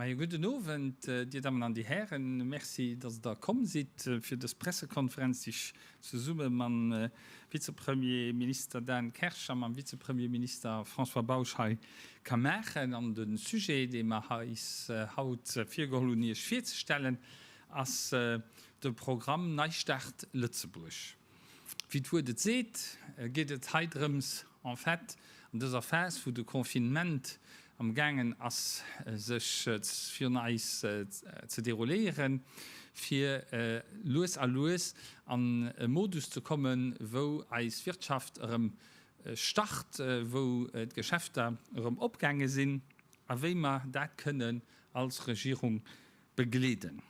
Mäi gudden Owend, Dir Dammen an Dir Hären. Merci, dass Der komm sidd fir dës Pressekonferenz, déi ech zesumme mam Vizepremierminister Dan Kersch a mam Vizepremierminister François Bausch hei ka maachen. An de Sujet, dee mer eis haut virgeholl hunn, Iech virzestellen, ass de Programm Neistart Lëtzebuerg. Wéi d'Wuert et seet, geet et hei drëms, en fait, an dëser Phas, wou de Confinement amgaangen ass, sech virun eis ze derouléieren, fir lues a lues an e Modus ze kommen, wou eis Wirtschaft erëm start, wou d'Geschäfter erëm opgaange sinn a wéi mer dat kënnen als Regierung begleeden.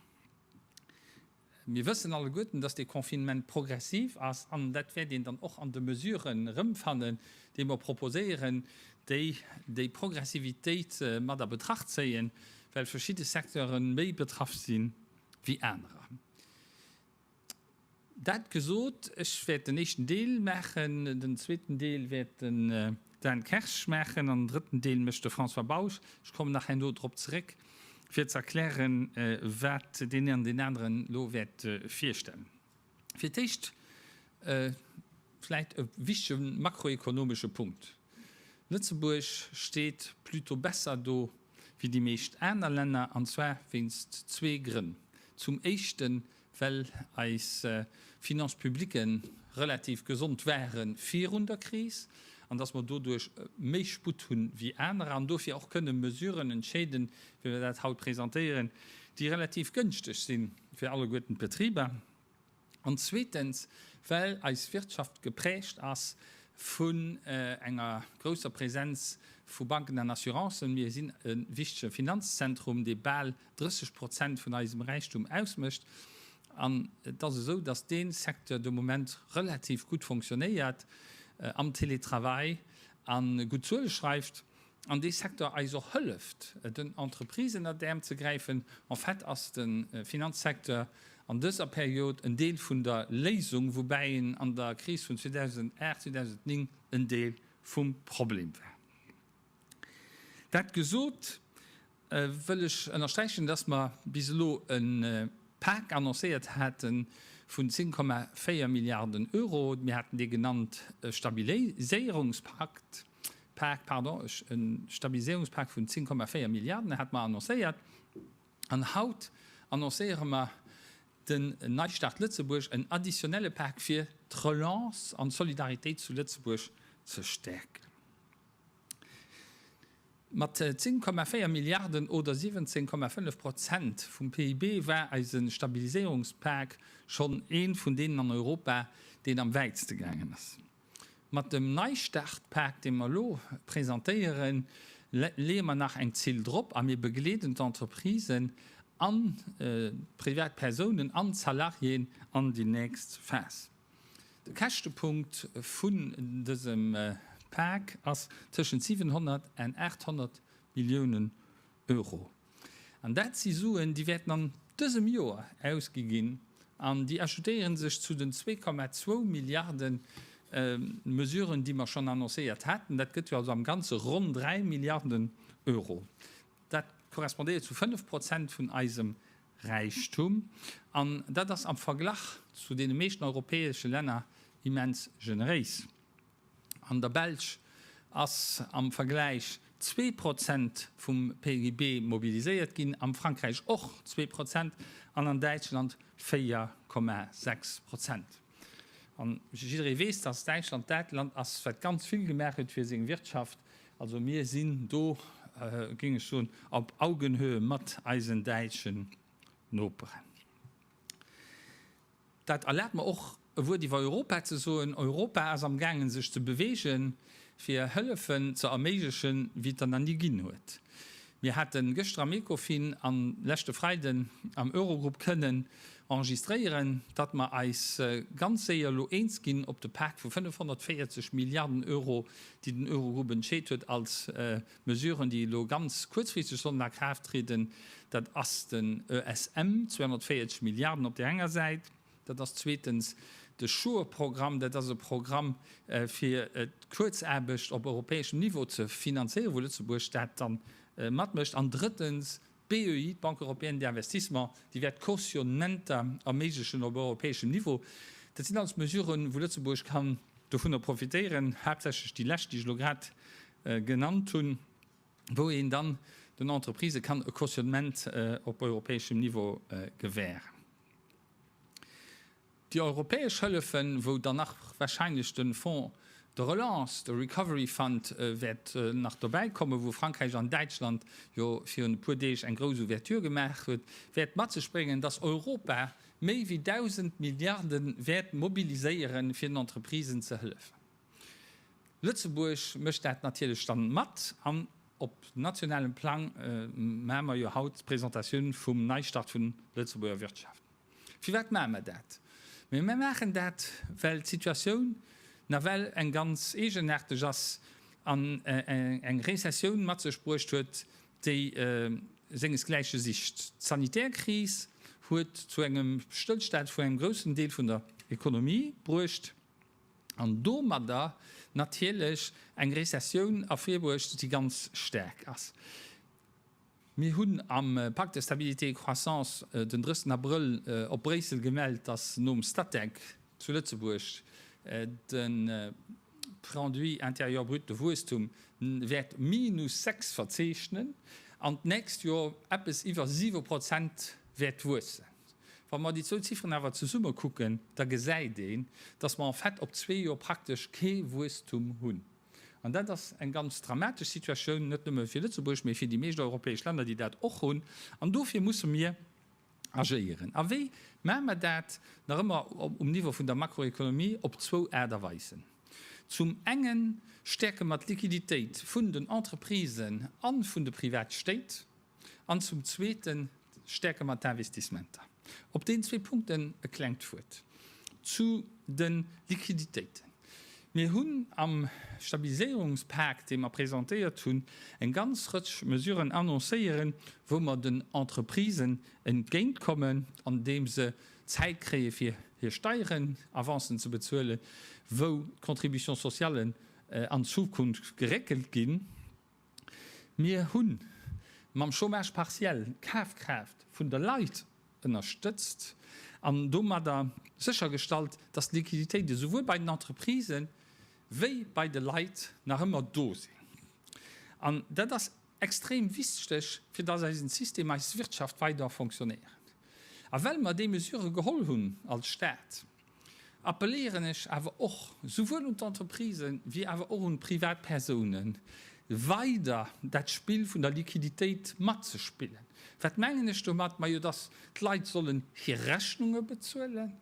Mir wëssen alleguerten, dass dee Confinement progressiv ass, an dat wäert een dann och an de Mesuren erëmfannen, déi mer proposéieren, déi déi Progressivitéit mat a Betracht zéien, well verschidde Secteure méi betraff si wéi anerer. Dat gesot, ech wäert den éischten Deel maachen, den zweeten Deel wäert de Dan Kersch, Maachen an den drëtten Deel mécht de François Bausch. Ech kommen nach herno drop zeréck, fir ze erklären, wat deen een an deen aneren elo wäert virstellen. Fir d'éischt vläicht e wichtege makroekonomesche Punkt, Lëtzebuerg steet plutôt besser do wéi déi meescht aner Länner, an zwar wéinst zwee Grënn, Zum éischten, well eis Finances publiques relativ gesond ware virun der Kris an dass mer doduerch méi Sputt hu wéi anerer an dofir och kënne Mesuren entscheeden, wéi mer dat haut presentéieren, déi relativ gënschteg si fir alleguerten d'Betriber. An zweetens, well eis Wirtschaft geprägt ass vun enger grousser Präsenz vu Banken an Assurancen. Mir sinn e wichtege Finanzzentrum, dee bal 30 Prozent vun eisem Räichtum ausmécht. An et ass esou, dass dee Secteur de Moment relativ gutt fonctionnéiert, am Télétravail a gutt Zuele schreift an dee Secteur eis och hëlleft, den Entreprisen an d'Äerm ze gräifen. En fait ass de Finanzsecteur an dëser Period en Deel vun der Léisung, woubäi en an der Kris vun 2008, 2009 en Deel vum Problem war. Dat gesot, wëll ech ënnersträichen, dass mer bis elo e Pak annoncéiert hate vun 10,4 Milliarden Euro. Mir haten dee genannt Stabiliséierungspak. E Stabiliséierungspak vun 10,4 Milliarden hate mer annoncéiert. An haut annoncéiere mer den Neistart Lëtzebuerg, en additionelle Pak, fir d'Relance an d'Solidaritéit zu Lëtzebuerg ze stäerken. Mat 10,4 Milliarden oder 17,5 Prozent vum PIB war eise Stabiliséierungspak schonn ee vun deenen an Europa, deen am wäitste gaangen ass. Mat dem Neistart-Pak, dee mer elo presentéieren, leeë mer nach eng Zill drop a mir begleeden d'Entreprisen an d'Privatpersounen an d'Salariéen an déi nächst Phas. De Käschtepunkt vun dësem Pak ass tëschent 700 an 800 Milliounen Euro. An dat si Suen, déi wäerten an dësem Joer ausgi ginn an déi ajoutéiere sech zu den 2,2 Milliarde Mesuren, déi mer schonn annoncéiert haten. Dat gëtt jo also am Ganze ronn 3 Milliarden Euro. Dat korrespondéiert zu 5 Prozent vun eisem Räichtum, an dat ass am Verglach zu deene meeschten europäesche Länner immens generéis. An der Belsch ass am Vergläich zwee Prozent vum PGB mobiliséiert ginn, am Frankräich och zwee Prozent an an Däitschland 4,6 Prozent. An jidderee weess, dass Däitschland dat Land ass, wat ganz vill gemaach huet fir seng Wirtschaft. Also mir sinn do, géing ech soen, op Augenhöhe mat eisen däitschen Noperen. Dat erlaabt mer och, e Wuert iwwer Europa ze soen. Europa ass am gaangen, sech ze beweegen, fir Hëllefen ze erméiglechen, wéi et der nach ni ginn huet. Mir hate gëschter am Ecofin an leschte Freiden am Eurogrupp kënnen enregistréieren, datt mer eis ganz séier elo eens ginn op de Pak vu 540 Milliarden Euro, déi den Eurogrupp entscheet huet als Mesuren, déi elo ganz kuerzfristeg sollen a Kraaft trieden. Dat ass den ESM, 240 Milliarden op där enger Säit. Dat ass zweetens de SURE-Programm. Dat ass e Programm, fir d'Kuerzaarbecht op europäeschem Niveau ze finanzéieren, wou Lëtzebuerg dat da matmécht. An drëttens d'BEI, d'Banque européenne d'investissement, déi wäert Cautionnementer erméiglechen op europäeschem Niveau. Dat sinn alles Mesuren, wou Lëtzebuerg kann dovunner profitéieren, haaptsächlech déi lescht, déi ech elo grad genannt hunn, wou een dann den Entreprisë kann e Cautionnement op europäeschem Niveau gewähren. Déi europäesch Hëllefen, wou dann nach wahrscheinlech de Fonds de relance, de Recovery Fund wäert nach dobäi kommen, wou Frankräich an Däitschland jo virun e puer Deeg eng grouss Ouverture gemaach huet, wäert mat sech bréngen, dass Europa méi wéi 1.000 Milliarden wäert mobiliséieren, fir den Entreprisen ze hëllefen. Lëtzebuerg mécht dat natierlech dann mat an op nationalem Plang mache mer jo haut d'Presentatioun vum Neistart vun Lëtzebuerger Wirtschaft. Firwat mache mer dat? Mir maachen dat, well d'Situatioun nawell eng ganz eegenaarteg ass an eng Rezessioun mat sech bruecht huet, déi sengesgläiche sicht. D'sanitär Kris huet zu engem Stëllstand vun engem groussen Deel vun der Economie bruecht. an domadder natierlech eng Rezessioun ervirbruecht, déi ganz staark ass. Mir hunn am Pacte de stabilité et de croissance den 3. Abrëll op Bréissel gemellt, datt nom Statec zu Lëtzebuerg de Produit intérieur brut de Wuesstum wäert minus 6 verzeechnen an d'nächst Joer eppes iwwer siwe Prozent wäert wuessen. Wa mer déi zwou Zifferen awer zesumme kucken, da gesäit een, dass mer en fait op zwee Joer praktesch kee Wuesstum hunn. An dat ass eng ganz dramatesch Situatioun, net nëmme fir Lëtzebuerg, mee fir déi meescht europäesch Länner, déi dat och hunn. An dofir musse mir agéieren. A wéi maache mer dat? Nach ëmmer um Niveau vun der Makroekonomie, op zwou Aart a Weisen. Zum engen stäerke mer d'Liquiditéit vun den Entreprisen a vun de Privatstéit. An zum Zweeten stäerke mer d'Investissementer. Op deenen zwee Punkten e klengt Wuert zu de Liquiditéiten. Mir hunn am Stabiliséierungspak, dee mer presentéiert hunn, eng ganz Rëtsch Mesuren annoncéieren, wou mer den Entreprisen entgéintkommen, andeem se Zäit kréie fir hir Steierenavancen ze bezuelen, wou d'Contributions sociallen an Zukunft geréckelt ginn. Mir hu mam Chômage partiel d'Kafkraaft vun de Leit ënnerstëtzt an domadder séchergestallt, dass d'Liquiditéit esouwuel bei den Entreprisen wéi bei de Leit nach ëmmer do sinn. An dat ass extrem wichteg, fir dass eisen System, eis Wirtschaft weider fonctionnéieren. A well mer déi Mesure geholl hunn als Stat, appelléieren ech awer och souwuel un d'Entreprisen wéi awer och un d'Privatpersounen, weider dat Spill vun der Liquiditéit matzespillen. Wat mengen ech domat? Majo, dass d'Leit sollen hir Rechnunge bezuelen,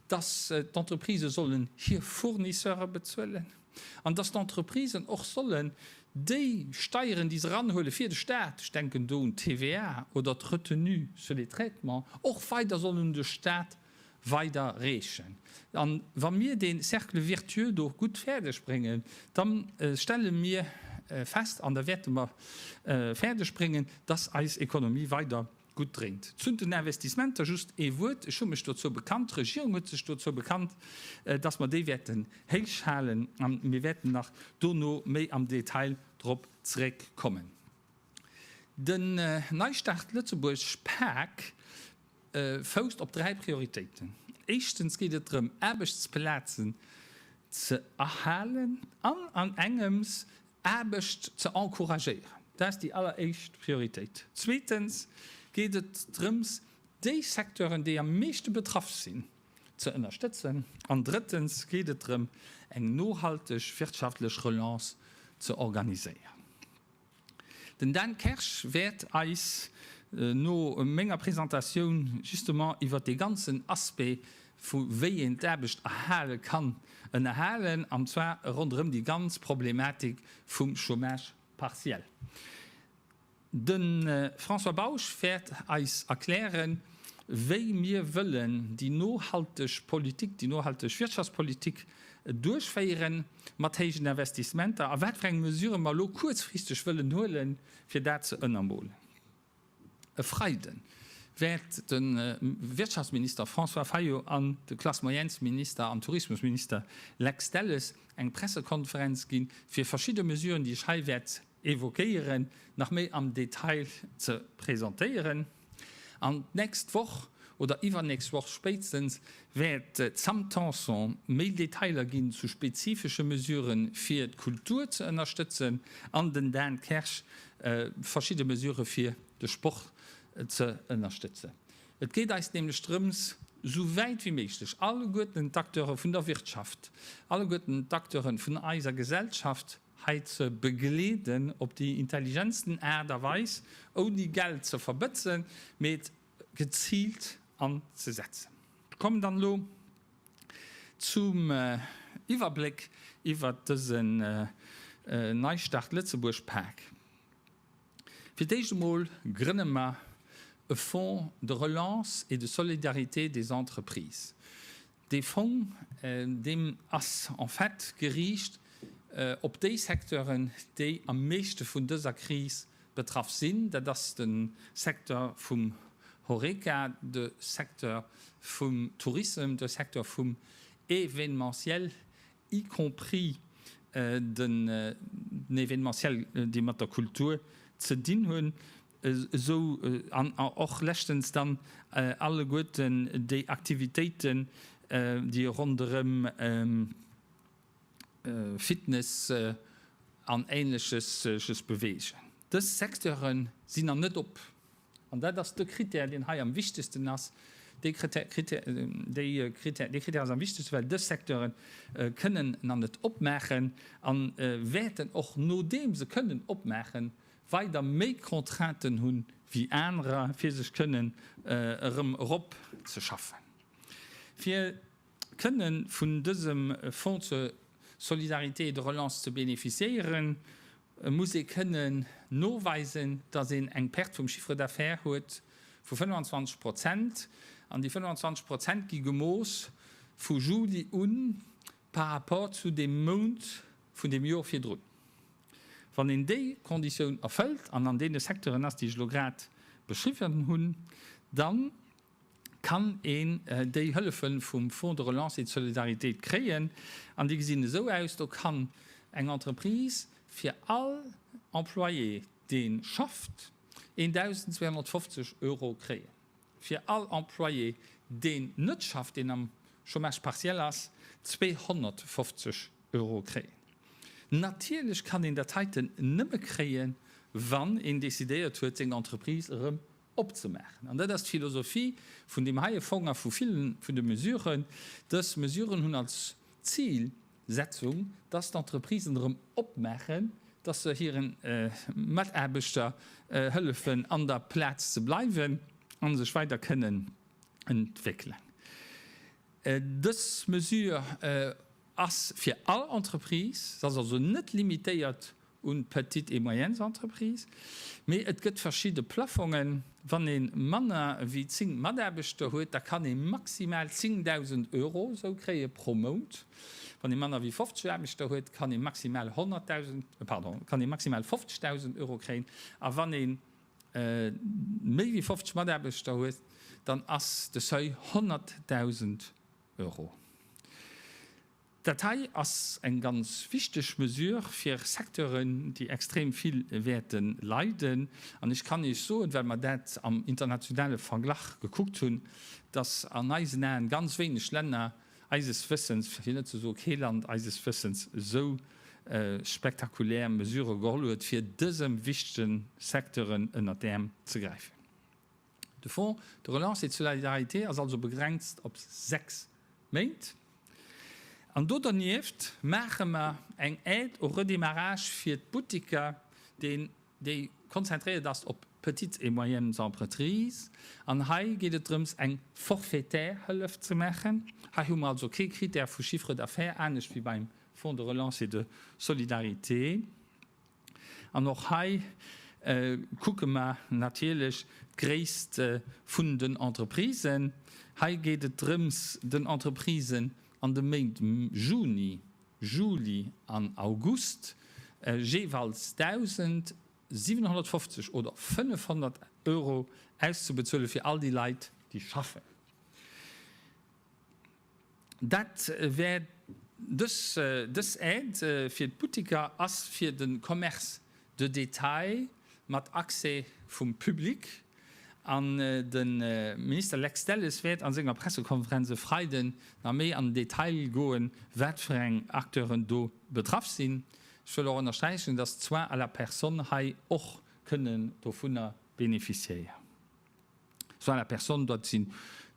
dass d'Entreprisë sollen hir Fournisseure bezuelen an dass d'Entreprisen och sollen déi Steieren, déi se eranhuele fir de Stat, ech denken do un d'TVA oder d'Retenue sur les traitements, och weider sollen un de Stat weider reechen. An wa mir dee Cercle virtueux do gutt fäerdeg bréngen, da stelle mir fest, an da wäerte mer fäerdeg bréngen, dass eis Économie weider gutt dréint. Zu den Investissementer just ee Wuert. Ech hu mech dozou bekannt, d'Regierung huet sech dozou bekannt, dass mer déi wäerten héich halen, a mir wäerten nach dono méi am Detail drop zréckkommen. Den Neistart Lëtzebuerg, PAAC, fousst op dräi Prioritéiten. Éischtens geet et drëm, Aarbechtsplazen ze erhalen an an engems Aarbecht ze encouragéieren. Dat ass déi alleréischt Prioritéit. Zweetens geet et drëms, déi Secteuren, déi am meeschte betraff sinn, ze ënnerstëtzen. An drëttens geet et drëm, eng nohalteg wirtschaftlech Relance ze organiséieren. Den Dan Kersch wäert eis no menger Presentatioun justement iwwert dee ganzen Aspect vu wéi een d'Aarbecht erhale kann ënnerhalen, an zwar ronderëm déi ganz Problematik vum Chômage partiel. De François Bausch wäert eis erklären, wéi mir wëllen déi nohalteg Politik, déi nohalteg Wirtschaftspolitik, duerchféieren, mat héijen Investissementer a wat fir eng Mesurë mer elo kuerzfristeg wëllen huelen, fir dat ze ënnermolen. E Freide wäert de Wirtschaftsminister François Fayot an de Classe-moyennes-Minister an Tourismusminister Lex Delles eng Pressekonferenz gi fir verschidde Mesuren, déi ech hei wäert évoquéieren, nach méi am Detail ze presentéieren. An d'nächst Woch oder iwwernächst Woch spéitstens wäert d'Sam Tanson méi Detailer ginn zu spezifesche Mesurë fir d'Kultur ze ënnerstëtzen an den Dan Kersch verschidde Mesurë fir de Sport ze ënnerstëtzen. Et geet eis nämlech drëms, sou wäit wéi méiglech alleguerten d'Acteure vun der Wirtschaft, alleguerten d'Acteure vun eiser Gesellschaft, hei ze begleeden op déi intelligentsten Aart a Weis, ouni Geld ze verbëtzen, mee et geziilt anzesetzen. Ech kommen dann elo zum Iwwerbléck iwwert dësen Neistart Lëtzebuerg Pak. Fir d'éischt emol grënne mer e Fonds de relance et de solidarité des entreprises. Dee Fong, deem ass en fait geriicht op déi Secteuren, déi am meeschte vun dëser Kris betraff sinn. Dat ass de Secteur vum Horeca, de Secteur vum Tourism, de Secteur vum Événementiel, y compris den Événementiel, déi mat der Kultur ze dinn hunn. esou an och leschtens dann alleguerten déi Aktivitéiten, déi ronderëm Fitness an Ähnleches sech bewegen. Dës Secteure sinn nach net op, an dat ass de Krittär, deen hei am wichtegsten ass. Dee Krittär ass am wichtegsten, well dës Secteure kënnen nach net opmaachen a wäerten och, nodeem se kënnen opmaachen, weider méi Contrainten hunn wéi anerer, fir sech kënnen erëm erop ze schaffen, fir kënnen vun dësem Fonds zur Solidarité et de Relance ze bénéficiéieren, muss ee kënnen noweisen, dass een eng Perte vum Chiffre d'affaires huet vu 25 Prozent. An déi 25 Prozent gi gemooss vu Juli u par rapport zu deem Mount vun deem Jor virdrun. Wann een déi Konditioun erfëllt an an deene Secteuren ass, déi ech elo grad beschriwwen hunn, da kann een déi Hëllefe vum Fonds de relance et de solidarité kréien. An déi gesinn esou aus, Do kann eng Entreprise fir all Employé, dee schafft, 1.250 Euro kréien. fir all Employé, deen net schafft, deen am Chômage partiel ass, 250 Euro kréien. Natierlech kann een dat heiten nëmme kréien, wann een decidéiert huet, seng Entreprise erëm opzemaachen. An dat ass d'Philosophie vun deem heie Fong a vu ville vun de Mesuren. Dës Mesuren hunn als Zil, Setzung, dass d'Entreprisen erëm opmaachen, dass se hire Mataarbechter hëllefen an der Plaz ze bleiwen a sech weider kënnen entwéckelen. Dës Mesure ass fir all Entreprise, se ass also net limitéiert un d'petites et moyennes Entreprises, mee et gëtt verschidde Plaffongen, wann ee manner wéi 10 Mataarbechter huet, da kann ee maximal 10.000 Euro esou kréie pro Mount, wann ee manner wéi 50 Aarbechter huet, kann ee maximal 100.000, pardon, kann ee maximal 50.000 Euro kréien, a wann ee méi wéi 50 Mataarbechter huet, dann ass de Seuil 100.000 Euro. Dat hei ass eng ganz wichteg Mesure fir Secteuren, déi extrem vill wäerte leiden. An ech kann Iech soen, well mer dat am internationale Verglach gekuckt hunn, dass an eisen Aen ganz wéineg Länner, eises Wëssens, fir net ze soe kee Land, eises Wëssens esou spektakulär Mesurë geholl huet, fir dësem wichtegen Secteuren ënnert d'Äerm ze gräifen. De Fonds de relance et de solidarité ass also begrenzt op sechs Méint. An do dernieft maache mer eng Aide au redémarrage fir d'Butteker, deen, déi konzentréiert ass op d'Petites et moyennes entreprises. An hei geet et drëms, eng forfaitaire Hëllef ze maachen. Hei hu mer also kee Krittär vu Chiffre d'affaires, anescht wéi beim Fonds de relance et de solidarité. An och hei kucke mer natierlech d'Gréisst vun den Entreprisen. Hei geet et drëms, den Entreprisen an de Méint Juni, Juli an August jeeweils 1.750 oder 500 Euro auszebezuele fir all déi Leit, déi schaffen. Dat wär dës Aide fir d'Butteker a fir de Commerce de détail mat Accès vum Public. An de Minister Lex Delles wäert a senger Pressekonferenz e Freiden nach méi an den Detail goen, wat fir eng Acteuren do betraff sinn. Ech wëll och ënnersträichen, dass d'Soins à la personne hei och kënnen dovunner beneficiéieren. Soins à la personne, dat sinn,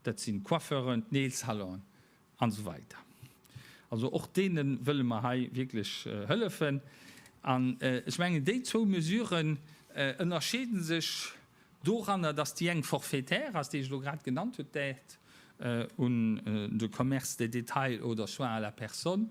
dat sinn d'Coiffeuren, d'Nailsalonen an esou weider. Also och deene wëlle mer hei wierklech hëllefen. An ech mengen, déi zwou Mesuren ënnerscheede sech doranner, dass déi eng forfaitaire ass, déi ech elo grad genannt huet, d'Aide à de commerce de détail oder Soins à la personne,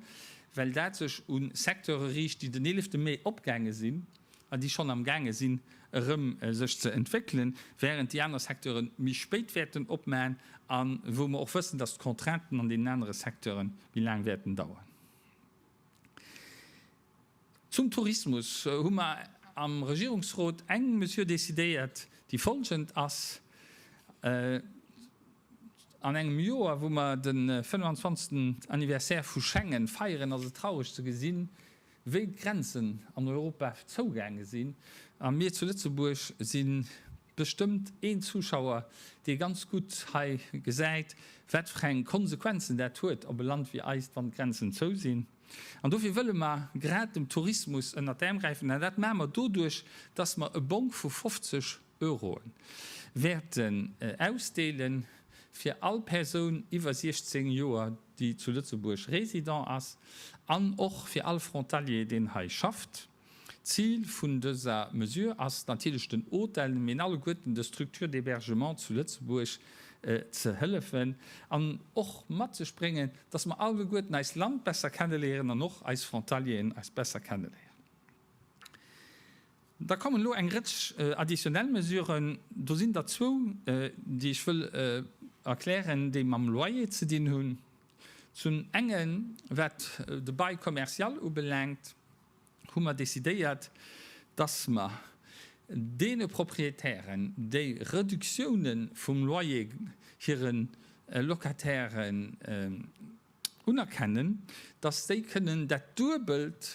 well dat sech u Secteure riicht, déi den eelefte Mee opgaange sinn, an déi schonn am gaange sinn erëm sech ze entwéckelen, während déi aner Secteure méi spéit wäerten opmaen a wou mer och wëssen, dass d'Contrainten an deenen anere Secteure méi laang wäerten dauern. Zum Tourismus hu mer am Regierungsrot eng Mesure decidéiert, déi folgend ass, An engem Joer, wou mer de 25. Anniversaire vu Schengen feieren, ass et traureg ze gesinn, Wéi d'Grenzen an Europa zougaange sinn a mir zu Lëtzebuerg, si bestëmmt een Zuschauer, dee ganz gutt hei gesäit, wat fir eng Konsequenzen dat huet op e Land wéi eist, wann d'Grenzen zou sinn. An dofir wëlle mer grad dem Tourismus ënnert d'Äerm gräifen. An dat maache mer doduerch, dass mer e Bong vu 50 Euroe wäerten ausdeelen, fir all Persoun iwwer 16 Joer, déi zu Lëtzebuerg résident ass, an och fir all Frontalier, deen hei schafft. D'Zil vun dëser Mesure ass natierlech den Hôtelen, mee alleguerten de Structures d'hébergement zu Lëtzebuerg ze hëllefen an och mat sech bréngen, dass mer alleguerten eist Land besser kenneléieren an och eis Frontalieren eis besser kenneléieren. Da kommen elo eng Rëtsch additionnel Mesuren. Do sinn der zwou, déi ech wëll erklären, déi mam Loyer ze dinn hunn. Zum enge wat de Bail commercial ubelaangt, hu mer decidéiert, dass mer deene Proprietären, déi Reduktioune vum Loyer hire Locatairen unerkennen, dass déi kënnen dat Duebelt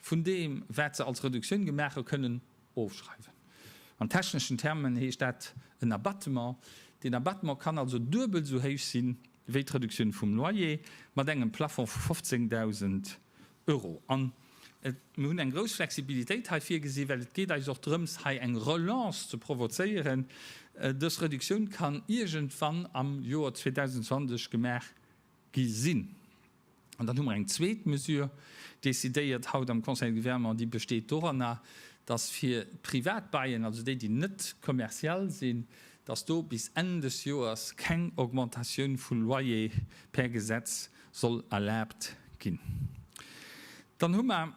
vun deem wat se als Reduktioun gemaach hu kënnen ofschreiwen. An techneschen Termen heescht dat en Abattement. Deen Abattement kann also duebel esou héich si wéi d'Reduktioun vum Loyer, mat engem Plafond vu 15.000 Euro. An mir hunn eng grouss Flexibilitéit hei virgesi, well et geet eis och drëms hei eng Relance ze provozéieren. Dës Reduktioun kann iergendwann am Joer 2020 gemaach gi sinn. An dann hu mer eng zweet Mesure decidéiert haut am Conseil de Gouvernement, déi besteet doranner, dass fir privat Baien, also déi, déi net kommerziell sinn, dass do bis Enn des Joers keng Augmentatioun vu Loyer per Gesetz soll erlaabt ginn. Dann hu mer.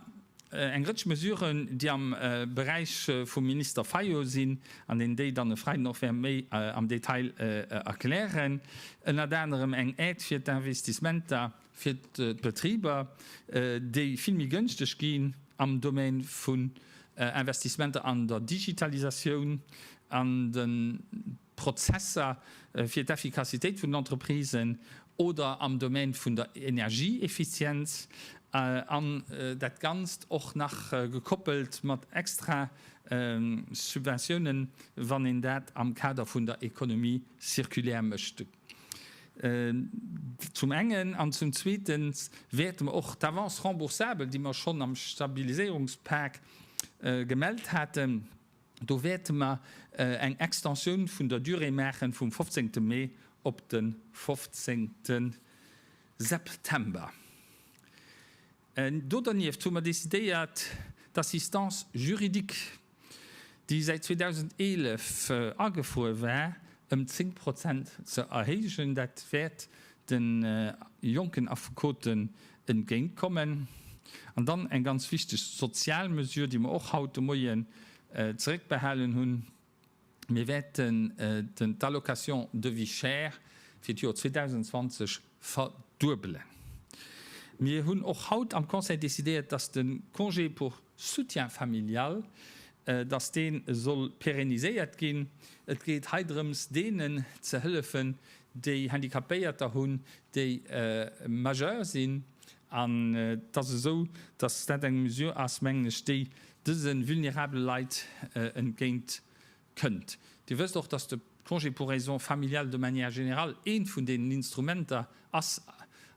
Eng Rëtsch Mesuren, déi am Beräich vum Minister Fayot sinn an deen déi dann e Freiden och wäert méi am Detail erklären, ënnert anerem eng Aide fir d'Investissementer fir d'Betriber, déi vill méi gënschteg gi am Domaine vun Investissementer an der Digitalisatioun, an den. Prozesser fir d'Effikassitéit vun den Entreprisen oder am Domaine vun der Energieeffizienz, an dat Ganzt och nach gekoppelt mat extra Subventiounen, wann een dat am Kader vun der Économie circulaire mécht, zum engen. An zum Zweete wäerte mer och d'Avance remboursable, déi mer schonn am Stabiliséierungspak gemellt haten, Do wäerte mer eng Extensioun vun der Durée maachen, vum 15. Mee op de 15. September. Do dernieft hu mer decidéiert, d'Assistance juridique, déi säit 2011 agefruer war, ëm 10 Prozent ze erhéijen. Dat wäert de jonken Affekoten entgéint kommen an dann eng ganz wichteg sozial Mesure, déi mer och haut de Moien zeréckbehalen hunn, Mir wäerten d'Allocation de vie chère fir d'Jor 2020 verduebelen. Mir hunn och haut am Conseil décidéiert, dass de Congé pour soutien familial, dass dee soll pérenniséiert ginn. Et geet hei drëms, deenen ze hëllefen, déi Handicapéierter hunn, déi majeur sinn, an et ass esou, dass dat eng Mesure ass, mengen ech, déi dëse vulnerabele Leit entgéint kënnt. Dir wësst och, dass de Congé pour raisons familiales de manière générale eent vun deenen Instrumenter ass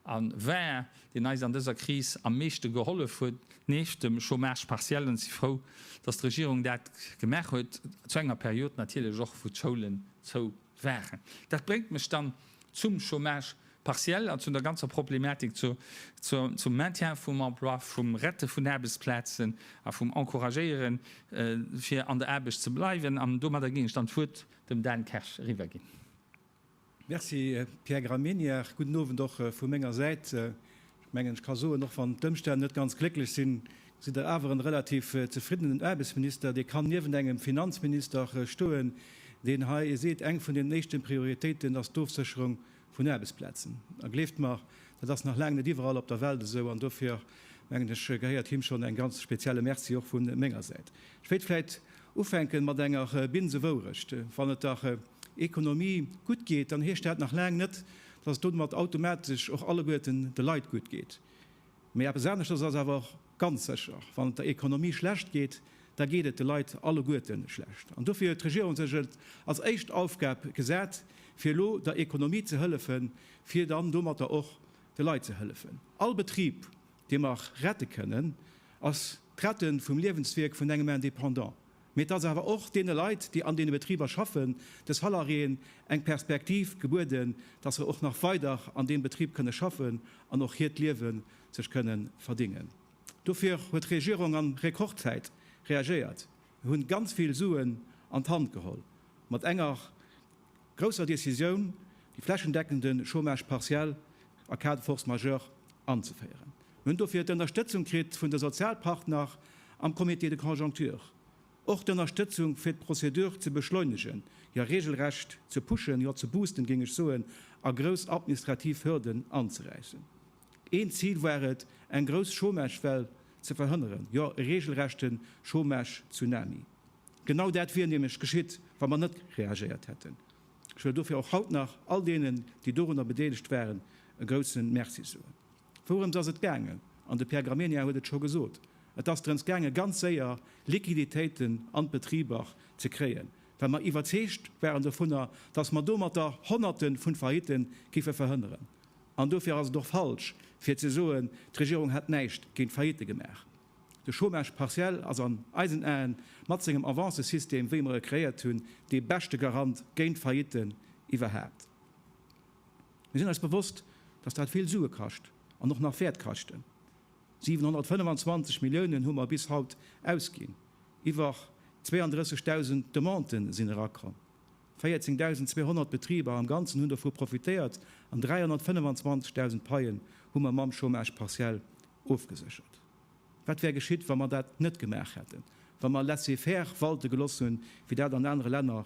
a war, deen eis an dëser Kris am meeschte gehollef huet, nieft dem Chômage partiel. An ech si frou, dass d'Regierung dat gemaach huet, zu enger Period natierlech och, wou d'Schoulen zou waren. Dat bréngt mech dann zum Chômage partiel an zu der ganzer Problematik zum Maintien vum Emploi, vum Rette vun Aarbechtsplazen a vum Encouragéiere fir an der Aarbecht ze bleiwen. An domadder géing ech dann d'Wuert dem Dan Kersch eriwwerginn. Merci, Pierre Gramegna. Gudden Owend och vu menger Säit. Ech mengen, ech ka soen, och wann d'Ëmstänn net ganz glécklech sinn, sidd Der awer en relativ zefriddenen Aarbechtsminister. Dir kann niewent engem Finanzminister stoen, deen hei seet, eng vun den éischten Prioritéiten ass d'Ofsécherung vun Aarbechtsplazen. A gleeft mer, dat ass nach laang net iwwerall op der Welt esou. An dofir, mengen ech, gehéiert him schonn eng ganz spezielle Merci och vu menger Säit. Ech wéilt vläit ufänken mat enger Binsewourecht, Wann et der Ekonomie gutt geet, dann heescht dat nach laang net, dass domat automatesch och alleguerten de Leit gutt geet. Mee eppes aneschters ass awer och ganz sécher, Wann et der Ekonomie schlecht geet, da geet et de Leit alleguerte schlecht. An dofir huet d'Regierung sech et als éischt Aufgab gesat, fir elo der Ekonomie ze hëllefen, fir dann domatter och de Leit ze hëllefen. All Betrib, dee mer rette kënnen, ass d'Rette vum Liewenswierk vun engem Indépendant. Mee dass awer och deene Leit, déi an deene Betriber schaffen, de Salariéen eng Perspektiv gebueden, dass se och nach weider an deem Betrib kënne schaffen an och hiert Liewe sech kënne verdingen. Dofir huet d'Regierung an Rekordzäit reagéiert. Mir hunn ganz vill Suen an d'Hand geholl mat enger. grousser Decisioun, déi flächendeckende Chômage partiel a Cas de force majeure anzeféieren. Mir hunn dofir d'Ënnerstëtzung kritt vun de Sozialpartner am Comité de conjoncture, och d'Ënnerstëtzung fir d'Procédure ze beschleunegen, hir regelrecht ze pushen, jo ze boosten géing ech soen, a grouss administrativ Hürden anzeräissen. Een Zil war et, eng grouss Chômagewell ze verhënneren, jo e regelrechte Chômage-Tsunami. Genau dat wier nämlech geschitt, wa mer net reagéiert hätten. Ech wëll dofir och haut nach all deenen, déi dorunner bedeelegt waren, e groussen Merci soen. Wourëms ass et gaangen? An de Pierre Gramegna huet et scho gesot, Et ass drëms gaangen, ganz séier Liquiditéiten an d'Betriber ze kréien, well mer iwwerzeegt waren dovunner, dass mer domatter Honnerte vun Failliten géife verhënneren. An dofir ass et och falsch, fir ze soen, d'Regierung hätt näischt géint d'Faillite gemaach. De Chômage partiel ass an eisen Aen, mat sengem Avancësystem, wéi mer e kreéiert hunn, dee beschte Garant géint Faillitten iwwerhaapt. Mir sinn eis bewosst, dass dat vill Sue kascht an och nach wäert kaschten. 725 Milliounen hu mer bis haut ausginn, iwwer 32.000 Demanden sinn erakomm, 14.200 Betriber am Ganzen hunn dovu profitéiert an 325.000 Paien hu mer mam Chômage partiel ofgeséchert. Wat wär geschitt, wa mer dat net gemaach hätten, wa mer laissez-faire walte geloss hunn, wéi dat an anere Länner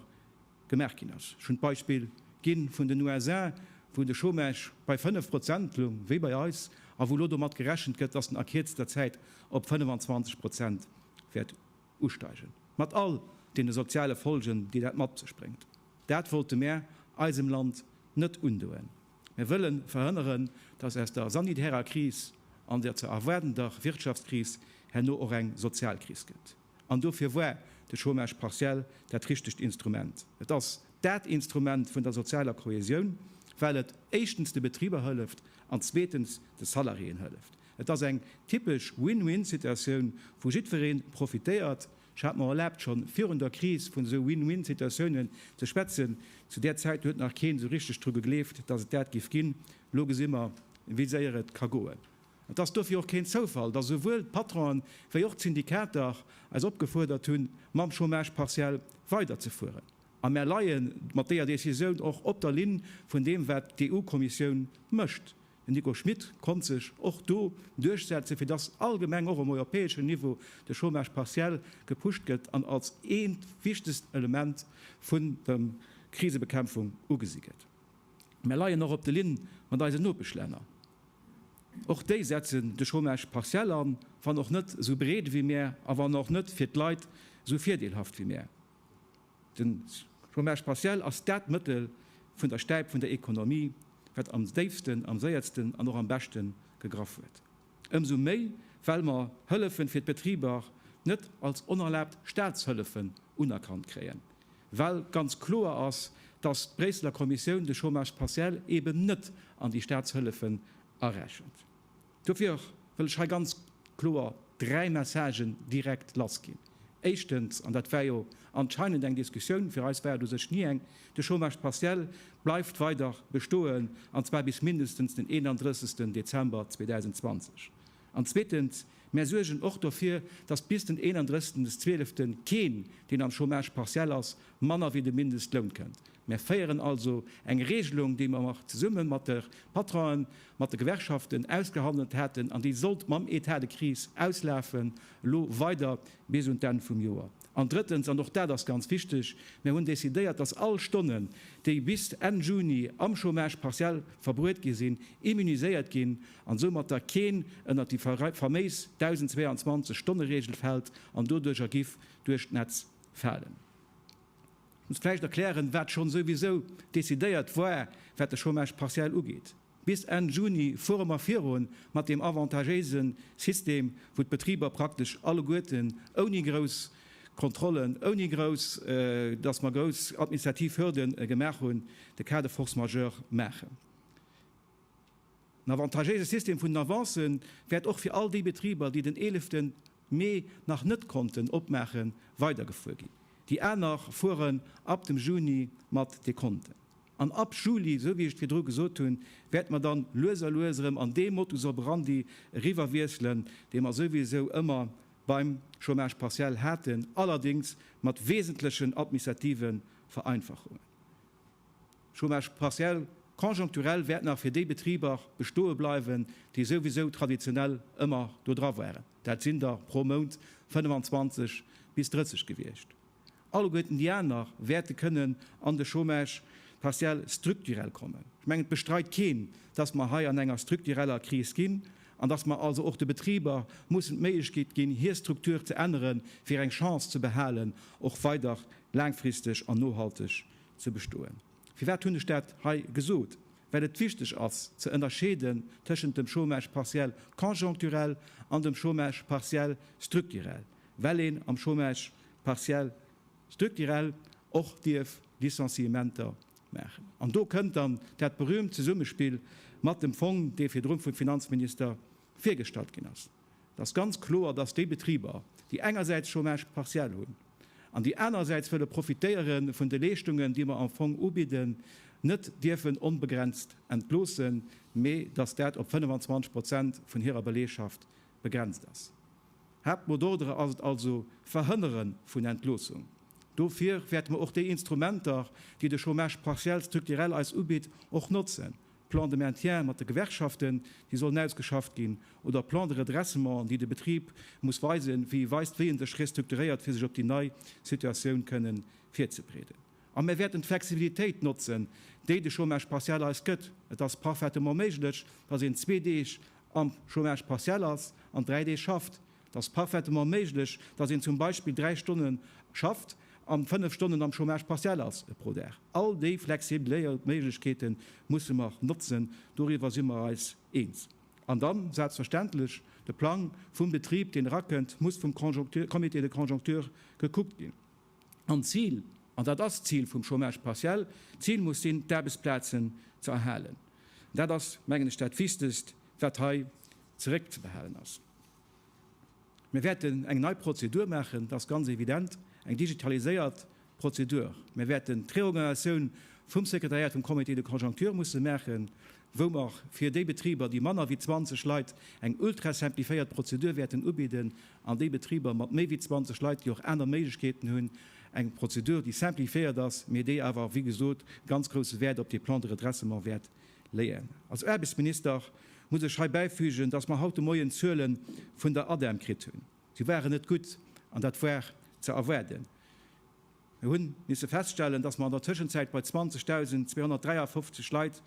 gemaach ginn ass? Ech hunn d'Beispill gi vun den USA, wou de Chômage bei 5 Prozent loung, wéi bei eis, a wou elo domat gerechent gëtt, dass en a kierzter Zäit op 25 Prozent wäert usteigen, mat all deene soziale Folgen, déi dat mat sech bréngt. Dat wollte mär eisem Land net undoen. Mir wëllen verhënneren, dass aus der sanitärer Kris an der ze erwaardender Wirtschaftskris herno och eng sozial Kris gëtt. An dofir war de Chômage partiel dat richtegt Instrument. Et ass dat Instrument vun der sozialer Kohäsioun, well et éischtens de Betriber hëlleft an zweetens de Salariéen hëlleft. Et ass eng typesch Win-win-Situatioun, wou jiddweree profitéiert, Ech hat mer erlaabt, scho virun der Kris vun esou Win-win-Situatiounen ze schwätzen. Zu där Zäit huet nach keen esou richteg dru gegleeft, dass et dat géif ginn. Elo gesi mer, wéi séier et ka goen. An et ass dofir och keen Zoufall, dass esouwuel d'Patronen, wéi och d'Syndikater eis opgefuerdert hunn, mam Chômage partiel weiderzefueren. A mer leie mat deeër Decisioun och op der Linn vun deem, wat d'EU-Kommissioun mécht. Den Nico Schmit konnt sech och do duerchsetzen, fir dass allgemeng och um europäeschen Niveau de Chômage partiel gepusht gëtt an als eent wichtegst Element vun dem Krisebekämpfung ugesi gëtt. Mär leien och op de Linn mat eisen Nopeschlänner. Och déi setzen de Chômage partiel an, wann och net esou breet ewéi mär a wann och net fir d'Leit esou virdeelhaft ewéi mär. De Chômage partiel ass dat Mëttel vun der Stäip vun der Ekonomie, wat am déifsten, am séiertsten an och am beschte gegraff huet. Ëmsou méi well mer Hëllefe fir d'Betriber net als onerlaabt Staatshëllefen unerkannt kréien, well ganz kloer ass, dass d'Bréisseler Kommissioun de Chômage partiel eben net an déi Staatshëllefen arechent. Dofir wëll ech hei ganz kloer dräi Messagen direkt lassginn. Éischtens, an dat war jo anscheinend eng Diskussioun, fir eis war et u sech ni eng, De Chômage partiel bleift weider bestoen, an zwar bis mindestens den 31. Dezember 2020. An zweetens, Mär suergen och dofir, datt bis den 31. 12. keen, deen am Chômage partiel ass, manner wéi de Mindestloun kënnt. Mir féieren also eng Regelung, déi mer och zesumme mat de Patronen, mat de Gewerkschaften ausgehandelt haten an déi sollt mam Etat de crise auslafen, elo weider bis un d'Enn vum Joer. An drëttens, an och dat ass ganz wichteg, Mir hunn decidéiert, dass all Stonnen, déi bis Enn Juni am Chômage partiel verbruet gi sinn, immuniséiert ginn an soumat da keen ënnert déi faméis 1.022 Stonne-Regel fält an doduercher giff duerch d'Netz falen. Ech muss vläicht erklären, wat schonn souwisou decidéiert war, wat de Chômage partiel ugeet. Bis Enn Juni fuere mer virun mat deem avantagéise System, wou d'Betriber praktesch alleguerten ouni grouss Kontrollen, ouni grouss, dass mer grouss administrativ Hürde gemaach hunn, de Cas de force majeure maachen. Den avantagéise System vun den Avancen wäert och fir all déi Betriber, déi den eeleften mee nach net konnten opmaachen, weidergefuer ginn. Déi aner fueren ab dem Juni mat de Konten. An ab Juli, esou wéi ech et virdru gesot hunn, wäerte mer dann lues a lues erëm an dee Modus operandi eriwwerwiesselen, dee mer souwisou ëmmer beim Chômage partiel haten, allerdéngs mat wesentlechen administrative Vereinfachungen. Chômage partiel, conjoncturel wäert nach fir déi Betriber bestoe bleiwen, déi souwisou traditionell ëmmer do dra waren. Dat sinn der pro Mount 25 bis 30 gewiescht. Alleguerten déi aner wäerte kënnen an de Chômage partiel strukturell kommen. Ech mengen, et bestreit keen, dass mer hei an enger struktureller Kris ginn an dass mer also och de Betriber mussen d'Méiglechkeet ginn, hir Struktur ze änneren, fir eng Chance ze behalen, och weider laangfristeg an nohalteg Ze bestoen. Firwat hunn ech dat hei gesot? Well et wichteg ass ze ënnerscheeden tëschent dem Chômage partiel conjoncturel an dem Chômage partiel structurel, well een am Chômage partiel structurel och dierf Licenciementer maachen. An do kënnt dann dat berühmt Zesummespill mat dem Fong, dee virdrun vum Finanzminister virgestallt ginn ass. Et ass ganz kloer, dass déi Betriber, déi engersäits Chômage partiel hunn an déi anerersäits wëlle profitéiere vun de Leeschtungen, déi mer am Fong ubidden, net dierfen onbegrenzt entloossen, mee dass dat op 25 Prozent vun hirer Belegschaft begrenzt ass. Haaptmot d'ordre ass et also d'Verhënnere vun Entloossung. Dofir wäerte mer och déi Instrumenter, déi de Chômage partiel strukturell eis ubitt, och notzen, Plan de maintien mat de Gewerkschaften, déi sollen ausgeschafft ginn, oder Plan de redressement, déi de Betrib muss weisen, wéi weist, wéi en sech restrukturéiert, fir sech op déi nei Situatioun kënnen virzebreeden. A mir wäerten d'Flexibilitéit notzen, déi de Chômage partiel eis gëtt. Et ass parfaitement méiglech, dass een zwee Deeg am Chômage partiel ass an dräi Deeg schafft. Et ass parfaitement méiglech, datt een zum Beispill dräi Stonne schafft an fënnef Stonnen am Chômage partiel ass pro Dag. All déi flexibléiert Méiglechkeete musse mer notzen, doriwwer si mer eis eens. An dann, selbstverständlech, de Plang vum Betrib, deen erakënnt, muss vum Comité de conjoncture gekuckt ginn. An d'Zil, an dat ass d'Zil vum Chômage partiel, d'Zil muss sinn, d'Aarbechtsplazen ze erhalen. Dat ass, mengen ech, dat Wichtegst, wat hei zeréckzebehalen ass. Mir wäerten eng nei Prozedur maachen, dat ass ganz evident, eng digitaliséiert Prozedur. Mir wäerten d'Reorganisatioun vum Sekretariat vum Comité de conjoncture musse maachen, wou mer fir déi Betriber, déi manner wéi 20 Leit, eng ultra-simplifiéiert Prozedur wäerten ubidden, an déi Betriber mat méi wéi 20 Leit, déi och aner Méiglechkeeten hunn, eng Prozedur, déi simplifiéiert ass, mee déi awer, wéi gesot, ganz grousse Wäert op dee Plan de redressement wäert Leyen. Als Aarbechtsminister muss ech hei bäifügen, dass mer haut de Moien d'Zuele vun der ADEM kritt hunn. Si waren net gutt, an dat war ze erwaarden. Mir hu misse feststellen, dass mer an der Tëschenzäit bei 20.253 Leit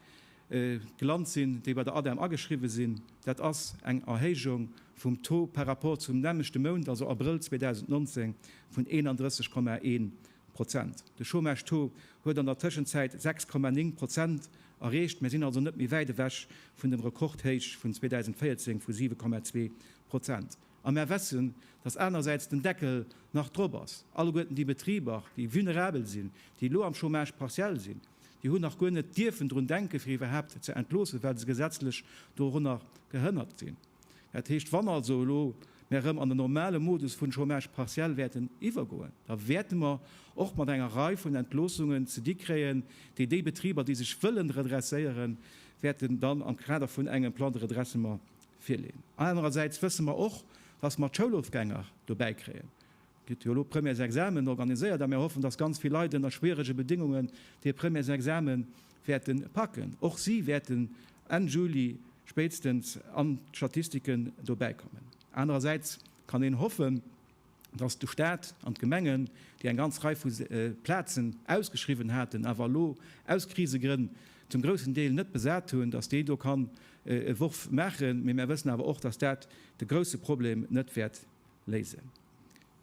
gelant sinn, déi bei der ADEM ageschriwwen sinn. Dat ass eng Erhéijung vum Taux par rapport zum nämmlechte Mount, also Abrëll 2019, vun 31,1 Prozent. De Chômage-Taux huet an der Tëschenzäit 6,9 Prozent erreecht. Mir sinn also net méi wäit ewech vun dem Rekordhéich vun 2014 vu 7,2 Prozent. A mer wessen, dass anersäits den Deckel nach drop ass. Alleguerten déi Betriber, déi vulnerabel sinn, déi elo am Chômage partiel sinn, déi hunn nach guer net dierfen drun denken, fir iwwerhaapt ze entloossen, well se gesetzlech dorunner gehënnert sinn. Dat heescht, wann also elo mär erëm an den normale Modus vun Chômage partiel wäerten iwwergoen, da wäerte mer och mat enger Rei vun Entloossungen ze di kréien, déi déi Betriber, déi sech wëllen redresséieren, wäerten dann am Kader vun engem Plan de redressement virleeën. Anerersäits wësse mer och, dass mer d'Schoulofgänger dobäi kréien. Gëtt jo elo Premièresexamen organiséiert a mir hoffen, dass ganz vill Leit ënner schwierege Bedéngungen hir Premièresexame wäerte packen. Och si wäerten Enn Juli spéitstens an d'Statistiken dobäi kommen. Anerersäits kann een hoffen, dass de Staat an d'Gemengen, déi eng ganz Rei vu Plazen ausgeschriwwen haten, awer elo aus Krisegrënn zum groussen Deel net besat hunn, dass déi do kann e Worf maachen. Mee mär wëssen awer och, dass dat de grousse Problem net wäert Léisen.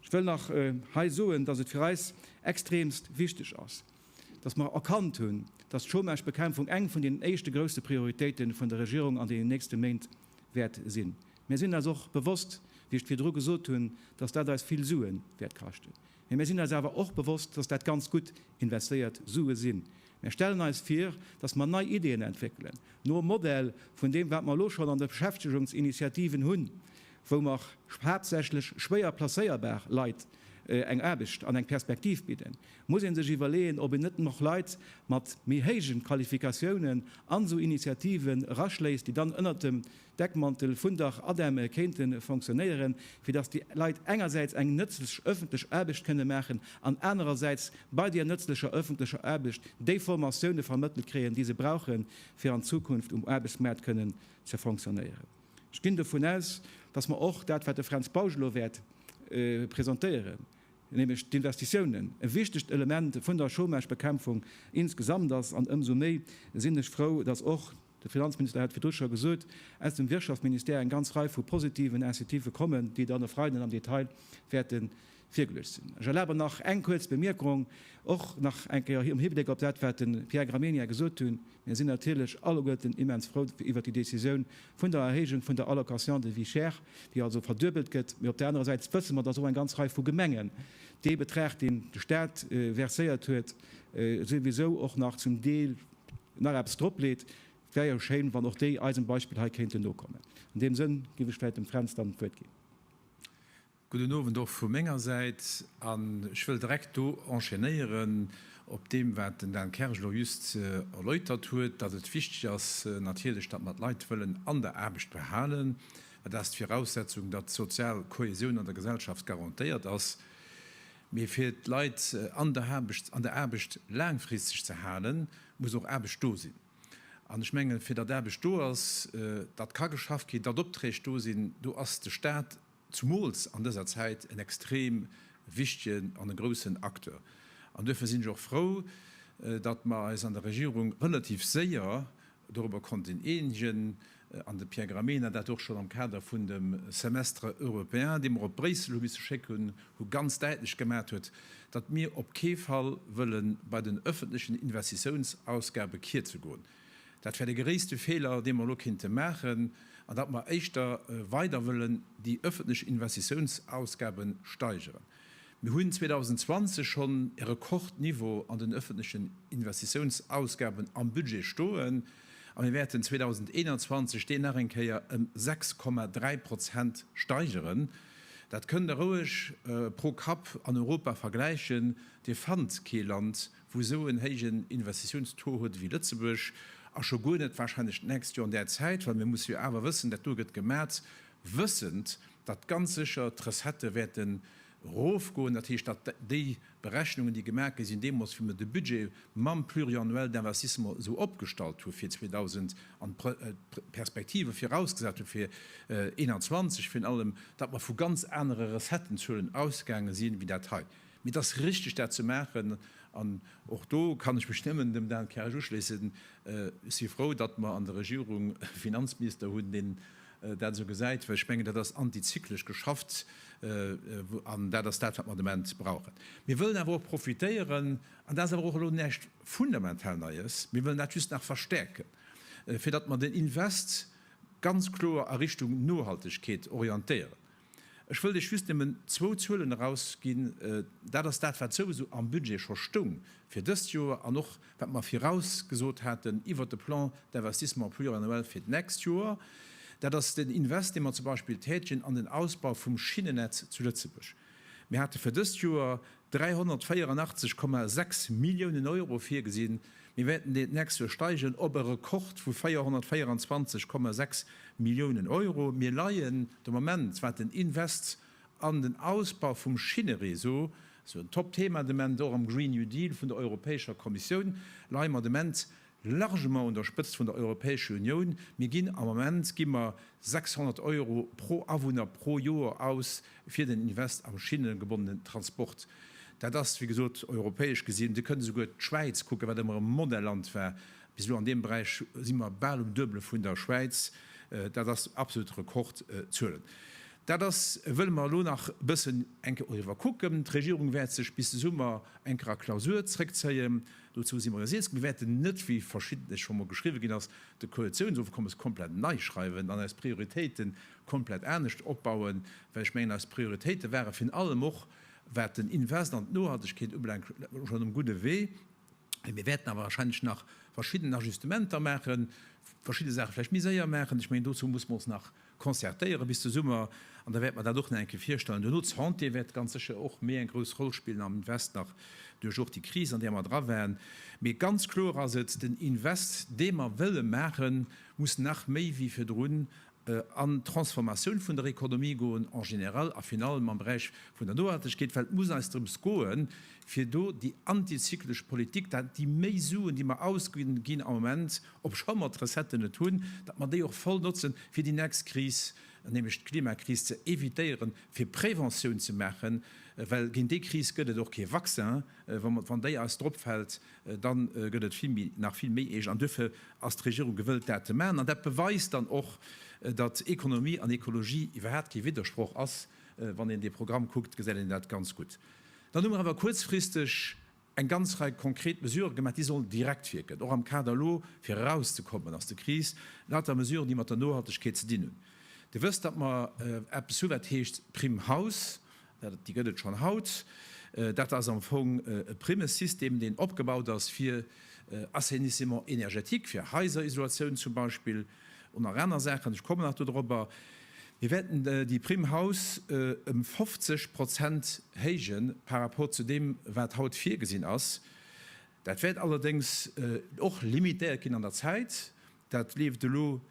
Ech wëll nach hei soen, dass et fir eis extremst wichteg ass, dass mer erkannt hunn, dass d'Chômagebekämpfung eng vun deenen éischte grousse Prioritéite vun der Regierung an deenen nächste Méint wäert sinn. Mir sinn eis och bewosst, wéi ech et virdru gesot hunn, dass dat eis vill Sue wäert kaschten. Mee mir sinn eis awer och bewosst, dass dat ganz gutt investéiert Sue sinn. Mir stellen eis vir, dass mer nei Ideeën entwéckelen, nom Modell vun deem, wat mer elo schonn an de Beschäftegungsinitiativen hunn, wou mer haaptsächlech schwéier placéierbar Leit eng Aarbecht an eng Perspektiv bidden. Muss ee sech iwwerleeën, ob een net och Leit mat méi héijen Qualifikatiounen an esou Initiativen eraschléisst, déi dann ënnert dem. Deckmantel vun der ADEME kéinte fonctionnéieren, fir datt déi Leit engersäits eng nëtzlech ëffentlech Aarbecht kënne maachen an anerersäits bei där nëtzlecher ëffentlecher Aarbecht déi Formatioune vermëttelt kréien, déi se brauche fir an Zukunft um Aarbechtsmaart kënnen ze fonctionnéieren. Ech ginn dovun aus, datt mer och dat, wat de Fränz Bausch elo wäert presentéieren, nämlech d'Investitiounen, e wichtegt Element vun der Chômagebekämpfung insgesamt ass. An ëmsou méi sinn ech frou, datt och De Finanzminister hat virdru scho gesot, aus dem Wirtschaftministère eng ganz Rei vu positiven Incitivë kommen, déi dann e Freiden am Detail wäerte virgeluecht sinn. Ech erlabe mer nach eng kuerz Bemierkung, och nach eng Kéier am Hibléck op dat, wat de Pierre Gramegna gesot hunn. Mir sinn natierlech alleguerten immens frou iwwert déi Décisioun vun der Erhéijung vun der Allocation de vie chère, déi also verduebelt gëtt. Mee op där anerer Säit wësse mer, dass och eng ganz Rei vu Gemengen dee Betrag, deen de Stat verséiert huet, souwisou och nach zum Deel, nach eppes drop leet, et wär jo schéin, wann och déi eisem Beispill hei kéinten nokommen. An deem Sënn géif ech vläicht dem Fränz dann d'Wuert ginn. Gudden Owend och vu menger Säit. An ech wëll direkt do enchaînéieren op deem, wat den Dan Kersch elo just erläutert huet, dass et wichteg ass natierlech, dass mer d'Leit wëllen an der Aarbecht behalen, well dat ass d'Viraussetzung, dass d'sozial Kohäsioun an der Gesellschaft garantéiert ass. Mee fir d'Leit an der Aarbecht, an der Aarbecht laangfristeg ze halen, muss och Aarbecht do sinn. An ech mengen, fir datt Aarbecht do ass, datt ka geschafft ginn, datt Opträg do sinn, do ass de Staat, zumools an dëser Zäit, en extrem wichtegen an e groussen Acteur. An duerfir sinn ech och frou, datt mer eis an der Regierung relativ séier Dorobber konnt een eenegen, an de Pierre Gramegna dat och schonn am Kader vun dem Semestre européen, dee mer op Bréissel hu misse schécken, hu ganz däitlech gemaat huet, datt mir op kee Fall wëlle bei den öffentlechen Investitiounsausgabe kierze goen. Dat wär de geréisste Feeler, dee mer elo kéinte maachen, an datt mer éischter weider wëllen déi öffentlech Investitiounsausgabe steigeren. Mir hunn 2020 schonn e Rekordniveau an den ëffentlechen Investitiounsausgaben am Budget stoen a mir wäerten 2021 deen nach eng Kéier ëm 6,3 Prozent steigeren. Dat kënnt Der roueg pro Kapp an Europa vergläichen, Dir fannt kee Land, wou esou en héijen Investitiounstaux huet ewéi Lëtzebuerg, a scho guer net wahrscheinlech d'nächst Joer an där Zäit, well mir musse jo awer wëssen, dat do gëtt gemat, wëssend, datt ganz sécher d'Recettë wäerte rofgoen, dat heescht, datt déi Berechnungen, déi gemaach gi sinn deemools, wéi mer de Budget mam Pluriannuel d'investissement esou opgestallt hu fir 2000 an d'Perspektive virausgesat hu fir 2021 virun allem, datt mer vu ganz anere Recettenzuelen ausgaange sinn, wéi dat hei. Mee et ass richtig, dat ze maachen. An och do kann ech mech nëmmen dem Dan Kersch uschléissen, Ech si frou, datt mer an der Regierung e Finanzminister hunn, deen dat esou gesäit, well ech mengen, dat ass antizyklesch geschafft an dat ass dat, wat mer de Moment brauchen. Mir wëllen awer och profitéieren, an dat ass awer och elo näischt fundamental Neies, mir wëllen dat just nach verstärken, fir datt mer den Invest ganz kloer a Richtung Nohaltegkeet orientéieren. Ech wëll lech just nëmmen zwou Zuelen erausginn. Dat ass dat, wat souwisou am Budget scho stoung fir dëst Joer an och wat mer virausgesot haten iwwert de Plan d'investissement pluriannuel fir d'nächst Joer. Dat ass den Invest, dee mer zum Beispill tätigen an den Ausbau vum Schinnennetz zu Lëtzebuerg. Mir hate fir dëst Joer 384,6 Milliounen Euro virgesinn. Mir wäerten déi d'nächst Joer steigen op e Rekord vu 424,6 Milliounen Euro. Mir leien de Moment, wat den Invest an den Ausbau vum Schinnereseau, also en Top-Thema de Ment, och am Green New Deal vun der Europäescher Kommissioun, leie mer de Ment Largement un der Spëtzt vun der Europäesche Unioun. Mir ginn am Moment gi mer 600 Euro pro Awunner pro Joer aus fir den Invest am schinnegebonnenen Transport. Dat ass, wéi gesot, europäesch gesinn, Dir kënnt esouguer d'Schwäiz kucken, wat ëmmer e Modelland war bis elo. An deem Beräich si mer bal um Duebele vun der Schwäiz. Dat ass absolut Rekordzuelen. Dat ass, wëlle mer elo nach e bëssen eng Kéier och iwwerkucken. D'Regierung wäert sech bis de Summer eng Kéier a Klausur zréckzéien. Dozou si mer resilsk. Mir wäerten net, wéi verschiddenes scho mol geschriwwe ginn ass, de Koalitiounsofkommes komplett nei schreiwen an eis Prioritéite komplett anescht opbauen, well ech mengen, eis Prioritéite ware virun allem och, wat den Invest an d'Nohaltegkeet ubelaangt, schonn um gudde Wee. Mee mir wäerten awer warscheinlech nach verschidden Ajustementer maachen, verschidde Saache vläicht méi séier maachen. Ech mengen, dozou muss mer ons nach Concertéiere bis de Summer, an da wäerte mer dat och nach eng Kéier virstellen. Duerno, d'Santé wäert ganz sécher och méi eng grouss Roll spillen am Invest, nach duerch och déi Kris, an där mer dra waren. Mee ganz kloer ass et, den Invest, dee mer wëlle maachen, muss nach méi wéi virdrun an d'Transformatioun vun der Économie goen en général a virun allem am Beräich vun der Nohaltegkeet, well et muss eis drëms goen, fir do déi antizyklesch Politik, dat déi méi Suen, déi mer ausginn, ginn am Moment, Obscho mer d'Recetten et hunn, datt mer déi och voll notzen, fir déi nächst Kris, nämlech d'Klimakris ze evitéieren, fir Préventioun ze maachen, well géint déi Kris gëtt et och kee Vaccin. Wann déi eis dropfält, da gëtt et vill méi, nach vill méi eescht. An duerfir ass d'Regierung gewëllt, dat ze maachen. An dat beweist dann och, datt Ekonomie an Ekologie iwwerhaapt kee Widdersproch ass. Wann een dee Programm kuckt, gesäit een dat ganz gutt. Dann hu mer awer kuerzfristeg eng ganz Rei konkret Mesurë gemaach, déi sollen direkt wierken, och am Kader elo fir erauszekommen aus der Kris, lauter Mesuren, déi mat der Nohaltegkeet ze dinn hunn. Dir wësst, datt mer eppes hu wat heescht Prime Haus, déi gëtt et schonn haut, dat ass am Fong e Primmesystem, deen opgebaut ass fir Assainissement énergétique, fir Haiserisolatioun zum Beispill, oder nach aner Saachen, ech kommen nach dodropper. Mir wäerten déi Prime Haus ëm 50 Prozent héije par rapport zu deem, wat haut virgesinn ass. Dat wäert allerdéngs och limitéiert ginn an der Zäit. Dat leeft elo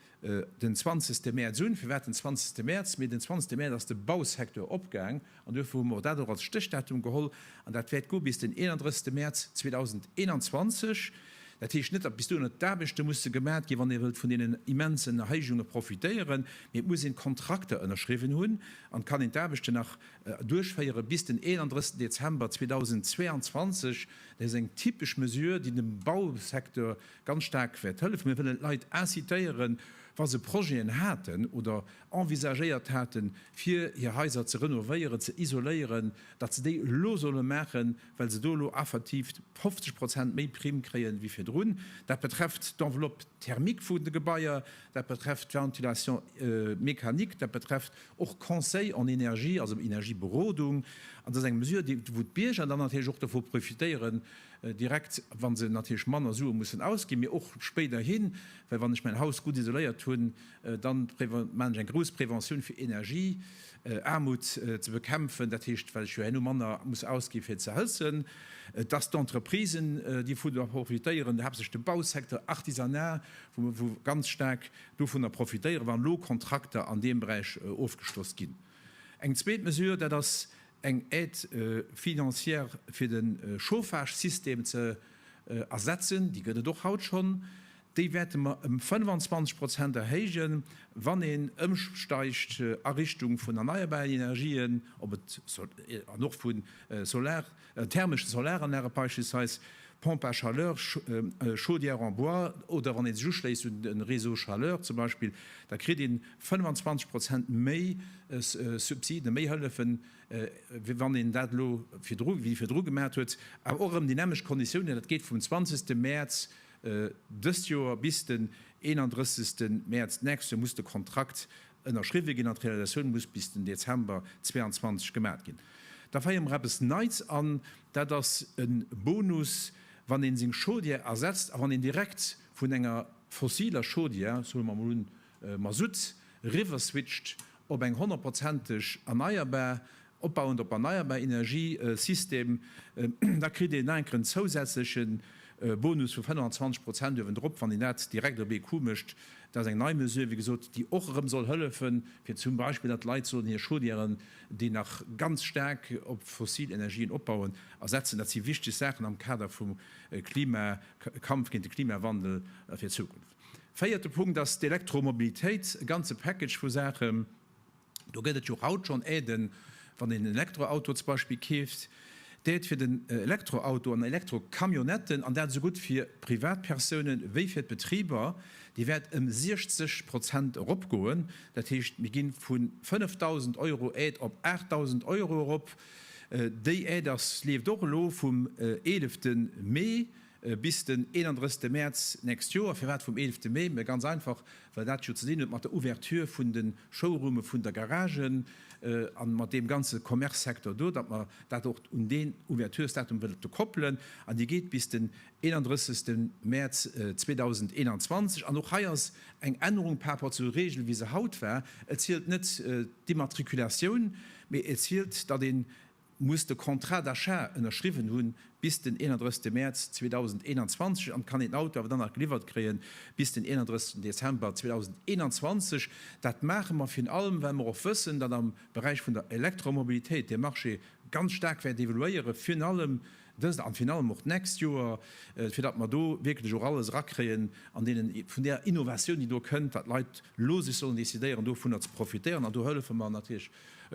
den 20. Mäerz un. Firwat den 20. Mäerz? Mee den 20. Mäerz ass de Bausecteur opgaang An duerfir hu mer dat och als Stéchdatum geholl. An dat wäert goe bis den 31. Mäerz 2021. Dat heescht net, datt bis dohinner d'Aarbechte musse gemat ginn, wann ee wëllt vun deenen immensen Erhéijunge profitéieren, mee et muss een d'Kontrakter ënnerschriwwen hunn an et kann een d'Aarbechten nach duerchféiere bis den 31. Dezember 2022. Dat ass eng typesch Mesure, déi dem Bausecteur ganz staark wäert hëllefen. Mir wëllen d'Leit incitéieren, wa se Projeten haten oder envisagéiert haten, fir hir Haiser ze renovéieren, ze isoléieren, datt se déi elo solle maachen, well se do elo effektiv 50 Prozent méi Primm kréien, wéi virdrun. Dat betrefft d'Enveloppe thermique vun de Gebaier, dat betrefft d'Ventilation mécanique, dat betrefft och Conseil en énergie, also Energieberodung. An dat ass eng Mesure, déi, wou d'Bierger dann natierlech och dovu profitéieren, direkt, wa se natierlech manner Sue mussen ausginn, mee och spéiderhin, well wann ech mäin Haus gutt isoléiert hunn, Dann mengen ech eng grouss Prévention fir Energie Aarmut ze bekämpfen, dat heescht well ech jo herno manner muss ausginn fir ze hëlzen, dass d'Entreprisen dovunner profitéieren, haaptsächlech de Bausecteur, Artisanat, wou mer ganz staark dovunner profitéieren, wann elo Kontrakter an deem Beräich ofgeschloss ginn. Eng zweet Mesure, dat ass eng Aide financière fir de Chauffage-System ze ersetzen, déi gëtt et och haut schonn. Déi wäerte mer ëm 25 Prozent erhéijen, wann een ëmsteigt a Richtung vun erneierbaren Energien, ob et an och vu Solar, thermeschen Solaranlagen beispillsweis, Pompes à chaleur, Chaudières en bois, oder wann ee sech uschléisst un de Réseau chaleur zum Beispill, da kritt een 25 Prozent méi Subsiden, méi Hëllefen, wéi wann een dat elo virdru, wéi virdru gemaat huet. Awer och erëm déi nämlecht Konditiounen, dat geet vum 20. Mäerz Dëst Joer bis den 31 Mäerz d'nächst Joer muss de Kontrakt ënnerschriwwe ginn an d'Realisatioun muss bis den Dezember 22 gemat ginn. Da feiere mer eppes Neits an, dat ass e Bonus, wann een seng Chaudière ersetzt a wann een direkt vun enger fossiler Chaudière, so mer mol un Masutt, eriwwerswitcht op eng honnertprozenteg erneierbar Opbauend op erneierbar Energie System, da kritt een enkeren zousätzleche Bonus vu 25 Prozent uewendrop, wann een dat direkt op ee Coup mécht. Dat ass eng nei Mesure, wéi gesot, déi och erëm soll hëllefe fir zum Beispill, datt d'Leit sollen hir Chaudièren, déi nach ganz staark op fossil Energien opbauen, ersetzen. Dat si wichteg Saachen am Kader vum Klima, Kampf géint de Klimawandel fir d'Zukunft. Véierte Punkt ass d'Elektromobilitéit, e ganze Package vu Saachen, Do gëtt et jo haut schonn Aiden, wann een en Elektroauto zum Beispill keeft, d'Aide fir den Elektroauto an Elektrocamionnetten, an dat esou gutt fir Privatpersounen wéi fir d'Betriber, déi wäert ëm 60 Prozent eropgoen. Dat heescht, mir gi vu 5.000 Euro Aide op 8.000 Euro erop. Déi Aide ass, leeft och elo vum eelefte Mee. Bis den 31 Mäerz nächst Joer. Firwat vum 11 Mee? Mä ganz einfach, well dat jo ze dinn huet mat der Ouverture vun de Showroome vun der Garage a mat deem ganze Commercesecteur do, datt mer dat och un deen Ouverturesdatum wëlte koppelen. An déi geet bis den 31 Mäerz 2021. An och hei ass eng Ännerung par rapport zur Regel, wéi se haut war. Et zielt net d'Immatriculatioun, mee et zielt, datt een muss de Contrat d'achat ënnerschriwwen hunn bis den 31 Mäerz 2021 an kann een Auto awer dann nach geliwwert kréie bis den 31 Dezember 2021. Dat maache mer virun allem well mer och wëssen, datt am Beräich vun der Elektromobilitéit de Marché ganz staark wäert evoluéiere virun allem dëst an virun allem och d'nächst Joer, fir datt mer do wierklech och alles erakréien an deenen vun där Innovatioun déi do kënnt, datt d'Leit elo sech sollen decidéieren dovunner ze profitéieren an do hëllefe mer natierlech.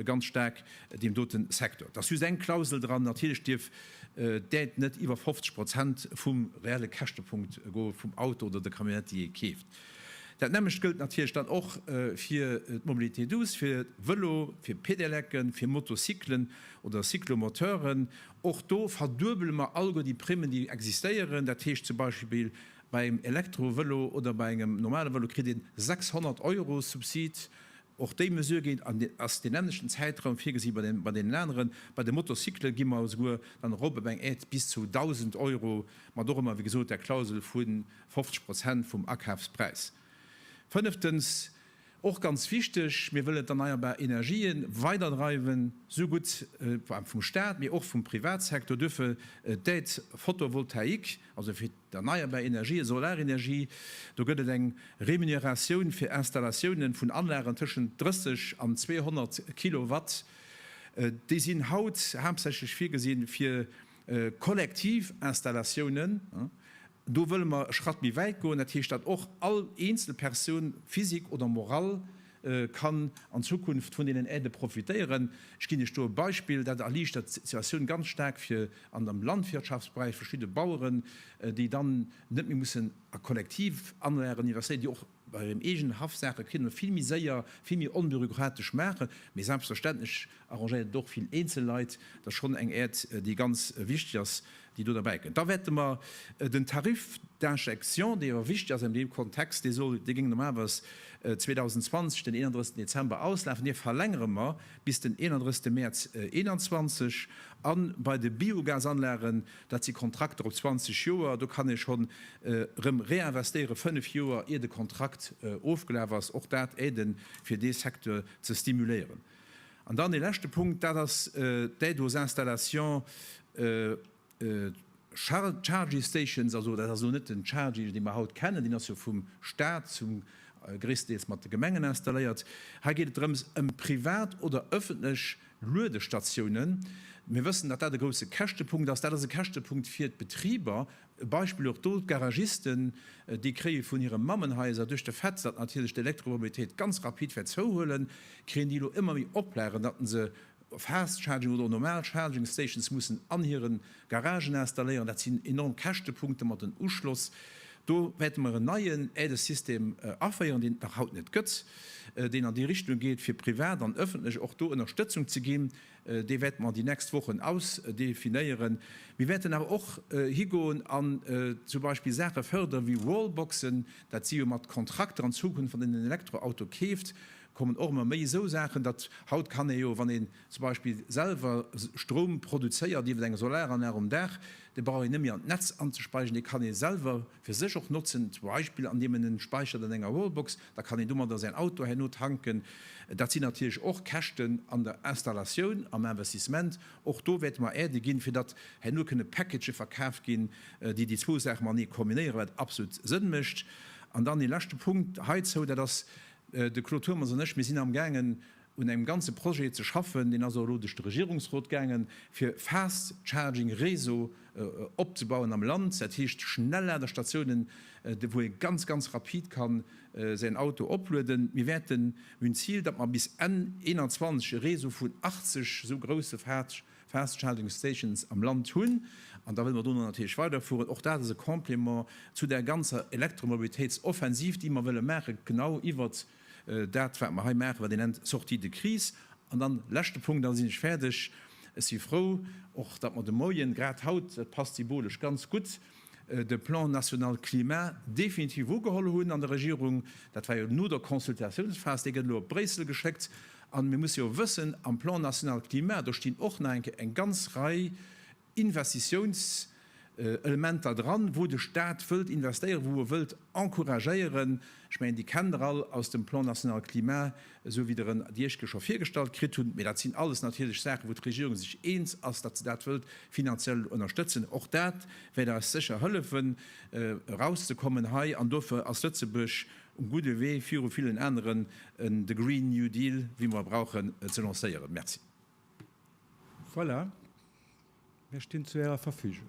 ganz staark deem dote Secteur. Et ass just eng Klausel dran, natierlech dierf d'Aide net iwwer 50 Prozent vum reelle Käschtepunkt goe vum Auto oder der Camionnette, déi ee keeft. Dat nämmlecht gëllt natierlech dann och fir d'Mobilité douce, fir Vëlo, fir Pedelecken, fir Motocyclen oder Cyclomoteuren. Och do verduebele mer alleguer déi Primmen, déi existéieren. Dat heescht zum Beispill bei engem Elektrovëlo oder bei engem normale Vëlo kritt ee 600 Euro Subsid Och déi Mesure géint an ass deen änlechten Zäitraum virgesi bei deenen aneren. Bei de Motocyclen gi mer esouguer dann erop op eng Aide bis zu 1.000 Euro, mat och ëmmer, wéi gesot, der Klausel vu 50 Prozent vum Akafspräis. Fënneftens, och ganz wichteg, Mir wëllen d'erneierbar Energië weider dreiwen, esou gutt vum Stat, mee och vum Privatsektor. Duerfir d'Aide photovoltaïque. Also fir d'erneierbar Energië, Solarenergie, do gëtt et eng Remuneratioun fir Installatiounen vun Anlagen tëschent 30 an 200 Kilowatt. Déi sinn haut haaptsächlech virgesinn fir kollektiv Installatiounen. Do wëlle mer e Schratt méi wäit goen, dat heescht, datt och all eenzel Persoun, Physik oder Moral, kann an Zukunft vun deenen Aidë profitéieren. Ech ginn Iech do e Beispill, dat erliichtert d'Situatioun ganz staark fir an am Landwirtschaftsberäich verschidde Baueren, déi dann net méi mussen a Kollektivanlagen investéieren, déi och bei hirem eegenen Haff Saache kënnen vill méi séier, vill méi onbürokratesch maachen. Mee selbstverständlech arrangéiert et och vill eenzel Leit. Dat ass schonn eng Aide, déi ganz wichteg ass, déi do derbäi kënn. Da wäerte mer den Tarif d'injection, dee jo wichtig ass an deem Kontext, dee soll, dee géing normalerweis 2020 den 31. Dezember auslafen, dee verlängere mer bis den 31. Mäerz 2021. A bei de Biogasanlagen, dat si Kontrakter op 20 Joer, do kann ee schonn erëm réinvestéieren, fënnf Joer ier de Kontrakt ofgelaf ass. Och dat aide fir dee Secteur ze stimuléieren. An dann ee leschte Punkt, dat ass d'Aide aux installations charging stations. Also dat ass elo net den Charging, dee mer haut kennen, deen ass jo vum Stat zum gréisstendeels mat de Gemengen installéiert. Hei geet et drëms ëm privat oder öffentlech Luedestatiounen. Mir wëssen, datt dat e grousse Käschtepunkt ass. Dat ass e Käschtepunkt fir d'Betriber, E Beispill och do, d'Garagisten, déi kréie vun hire Mammenhaiser, duerch de Fait, datt natierlech d'Elektromobilitéit ganz rapid wäert zouhuelen, kréien déi elo ëmmer méi Oplagen, datt se Fast Charging oder och normal Charging Stations mussen an hire Garagen installéieren. Dat sinn enorm Käschtepunkte mat den Uschloss. Do wäerte mer en neien Aidesystem aféieren, deen et nach haut net gëtt, deen an déi Richtung geet, fir privat an ëffentlech och do Ënnerstëtzung ze ginn. Dee wäerte mer déi nächst Wochen ausdefinéieren. Mir wäerten awer och higoen an zum Beispill Saache fërdere wéi Wallboxen, dat si jo mat Kontrakter an Zukunft, wann een en Elektroauto keeft, kommen och ëmmer méi esou Saachen, datt haut kann ee jo, wann een zum Beispill selwer Stroum produzéiert iwwer eng Solaranlag um Daach, da brauch een net méi an d'Netz anzespeisen, dee kann ee selwer. fir sech och notzen, zum Beispill andeem en en späichert an enger Wallbox, da kann een domadder säin Auto herno tanken. Dat sinn natierlech och Käschten an der Installatioun, am Investissement. Och do wäerte mer Aide ginn, fir datt herno kënne Package verkaaft ginn, déi déi zwou Saache matenee kombinéieren, wat absolut Sënn mécht. An dann ee leschte Punkt heizou, dat ass, de Claude Turmes an ech, mir sinn amgaangen un engem ganze Projet ze schaffen, deen ass och elo duerch de Regierungsrot gaangen, fir Fast Charging Réseau opzebauen am Land, dat heescht Schnelladestatiounen, wou ee ganz, ganz rapid ka säin Auto oplueden. Mir wäerten, mir hunn d'Zil, datt mer bis Enn 2021 e Réseau vun 80 esou grousse Fast Charging Stations am Land hunn, an da wëlle mer dono natierlech weiderfueren. Och dat ass e Complément zu där ganzer Elektromobilitéitsoffensiv, déi mer wëlle maachen, genau iwwert. Dat, wat mer hei maachen, wat ee nennt Sortie de crise. An dann, leschte Punkt, dann sinn ech fäerdeg, Ech si frou och, datt mer de Moien, grad haut, dat passt symbolesch ganz gutt, de Plan national climat definitiv ugeholl hunn an der Regierung. Dat war jo no der Consultatiounsphas. Dee gëtt elo op Bréissel geschéckt. A mir musse jo wëssen, am Plan national climat, do stinn och nach eng ganz Rei Investitiounselementer dran, wou de Stat wëllt investéieren, wou e wëllt encouragéieren. Ech mengen, Dir kennt Der all aus dem Plan national climat, esou wéi Der en Dir Iech scho virgestallt kritt hutt. Mee dat sinn alles natierlech Saachen, wou d'Regierung sech eens ass, datt se dat wëllt finanziell ënnerstëtzen. Och dat wäert eis sécher hëllefen, erauszekommen hei. An dofir ass Lëtzebuerg um gudde Wee, viru villen aneren de Green New Deal, wéi mer e brauchen, ze lancéieren. Merci. Voilà, mir stinn zu Ärer Verfügung.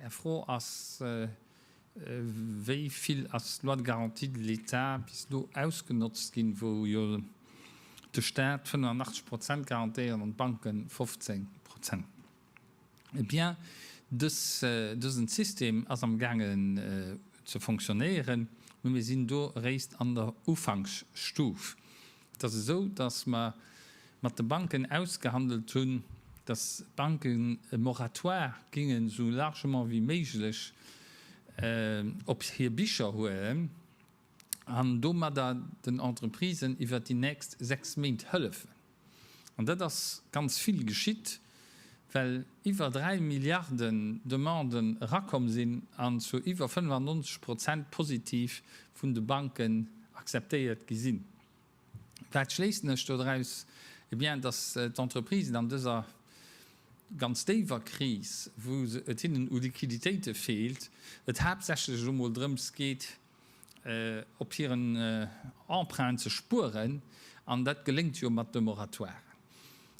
Är Fro ass, Wéi vill ass d'Loi de garantie de l'État bis elo ausgenotzt ginn, wou jo de Staat 85 Prozent garantéiert an d'Banken 15 Prozent? Eh bien, dësen System ass am gaangen ze fonctionnéieren, mä mir sinn do eréischt an der Ufanksstuf. Et ass esou, datt mer mat de Banken ausgehandelt hunn, datt d'Banken e Moratoire géingen esou largement wéi méiglech op hir Bicher huelen an domadder den Entreprisen iwwert déi nächst sechs Méint hëllefen. An dat ass ganz vill geschitt. well iwwer 3 Milliarden Demanden erakomm sinn an zu iwwer 95 Prozent positiv vun de Banken akzeptéiert gi sinn. Wat schléissen ech doraus? Eh bien, dass d'Entreprisen an dëser ganz déiwer Kris, wou et hinnen u Liquiditéite feelt, et haaptsächlech elo mol drëms geet, op hiren Emprunten ze spueren, an dat geléngt jo mat de Moratoiren.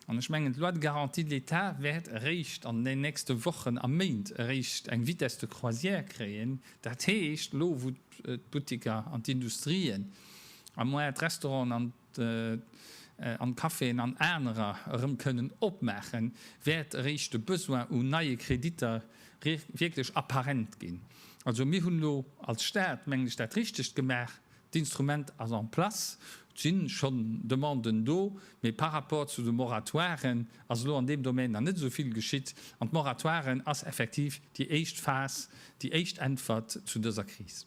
An ech mengen, d'Loi de garantie de l'État wäert eréischt an den nächste Wochen a Méint eréischt eng Vitesse de croisière kréien. Dat heescht, elo wou d'Buttiker an d'Industrien, à moins d'Restauranten an. an d'Caféen an anerer erëm kënnen opmaachen, wäert eréischt de Besoin u neie Kreditter wierklech apparent ginn. Also mir hunn elo als Stat, mengen ech, dat Richtegt gemaach, d'Instrument ass en place, et si schonn Demanden do, mee par rapport zu de Moratoiren ass elo an deem Domän nach net esou vill geschitt. An d'Moratoiren ass effektiv déi éischt Phas, déi éischt Äntwert zu dëser Kris.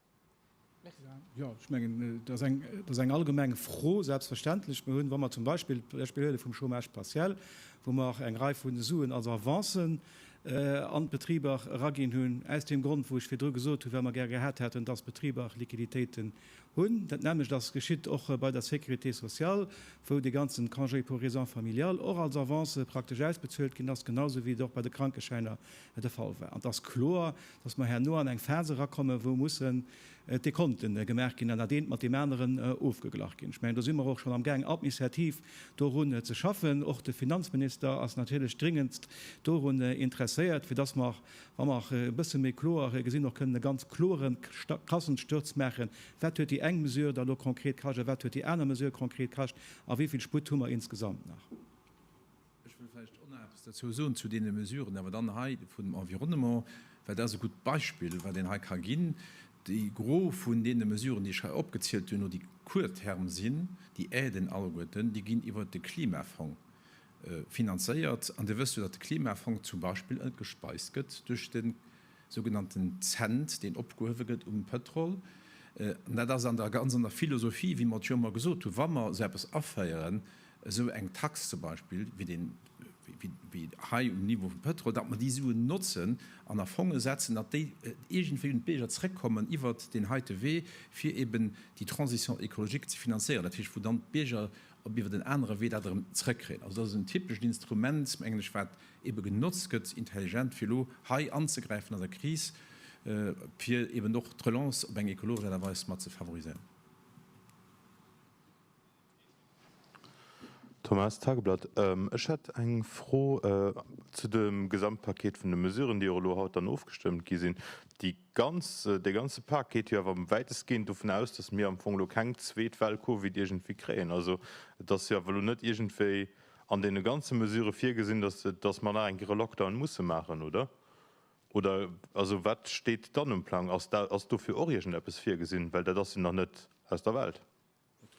Jo, ech mengen, dat ass eng, dat ass eng allgemeng Fro, selbstverständlech. Mir hunn, wa mer zum Beispill d'Beispill huele vum Chômage partiel, wou mer och eng Rei vu Suen als Avancen an d'Betriber eraginn hunn, aus deem Grond, wou ech virdru gesot hunn, well mer gär gehat hätten, dass d'Betriber och Liquiditéiten hunn. Dat nämmlecht ass geschitt och bei der Sécurité sociale, wou dee ganze Congé pour raisons familiales och als Avance praktesch ausbezuelt ginn ass, genausou wéi et och bei de Krankeschäiner de Fall war. An et ass kloer, dass mer herno an eng Phas erakommen, wou mussen d'Dekonten gemaach ginn an dat eent mat deem aneren ofgeglach ginn. Ech mengen, do si mer och schonn amgaang administrativ dorun ze schaffen. Och de Finanzminister ass natierlech dringendst dorun interesséiert, fir dass mer, wa mer e bësse méi kloer gesinn, och kënnen e ganz kloere Kassensturz maachen, Wat huet déi eng Mesure da lo konkret kascht a wat huet déi aner Mesure konkret kascht a wéi vill Sputt hu mer insgesamt nach? Ech wëll vläicht och nach eppes dozou soen zu deene Mesuren awer dann hei vum Environnement, well dat ass e gutt Beispill, wat een hei ka ginn. De Gros vun deene Mesuren, déi ech hei opgezielt hunn, déi court terme sinn, déi aiden alleguerten, déi ginn iwwert de Klimafong finanzéiert. An Dir wësst jo, datt de Klimafong zum Beispill gespeist gëtt duerch de sougenannten Cent, deen opgehuewe gëtt um Pëtrol. An dat ass an der, ganz an der Philosophie, wéi mer et jo ëmmer gesot hunn, wa mer esou eppes aféieren, esou eng Tax zum Beispill wéi deen, wéi hei um Niveau vum Pëtrol, datt mer déi Suen notzen an a Fonge setzen, datt déi iergendwéi un d'Bierger zrëckkommen iwwert deen heite Wee, fir eben déi Transition écologique ze finanzéieren. Dat heescht, wou dann d'Bierger op iwwert en anere Wee dat erëm zrëckkréien. Also dat ass en typescht Instrument, mengen ech, wat ebe genotzt gëtt, intelligent fir elo hei anzegräifen an der Kris, fir eben och d'Relance op eng ekologesch Aart a Weis mat ze favoriséieren. Thomas, Tageblatt, Ech hätt eng Fro zu dem Gesamtpaket vun de Mesuren, déi och elo haut dann ofgestëmmt gi sinn. Déi ganz, dee ganze Pak geet jo awer wäitestgehend dovun aus, dass mir am Fong elo keng zweet Well Covid iergendwéi kréien. Also et ass jo awer elo net iergendwéi an deene ganze Mesurë virgesinn, dass, dass mer nach eng Kéier e Lockdown musse maachen, oder? Oder, also wat steet dann um Plang? Ass da, ass dofir och iergendeppes virgesinn? Well dat ass jo nach net aus der Welt.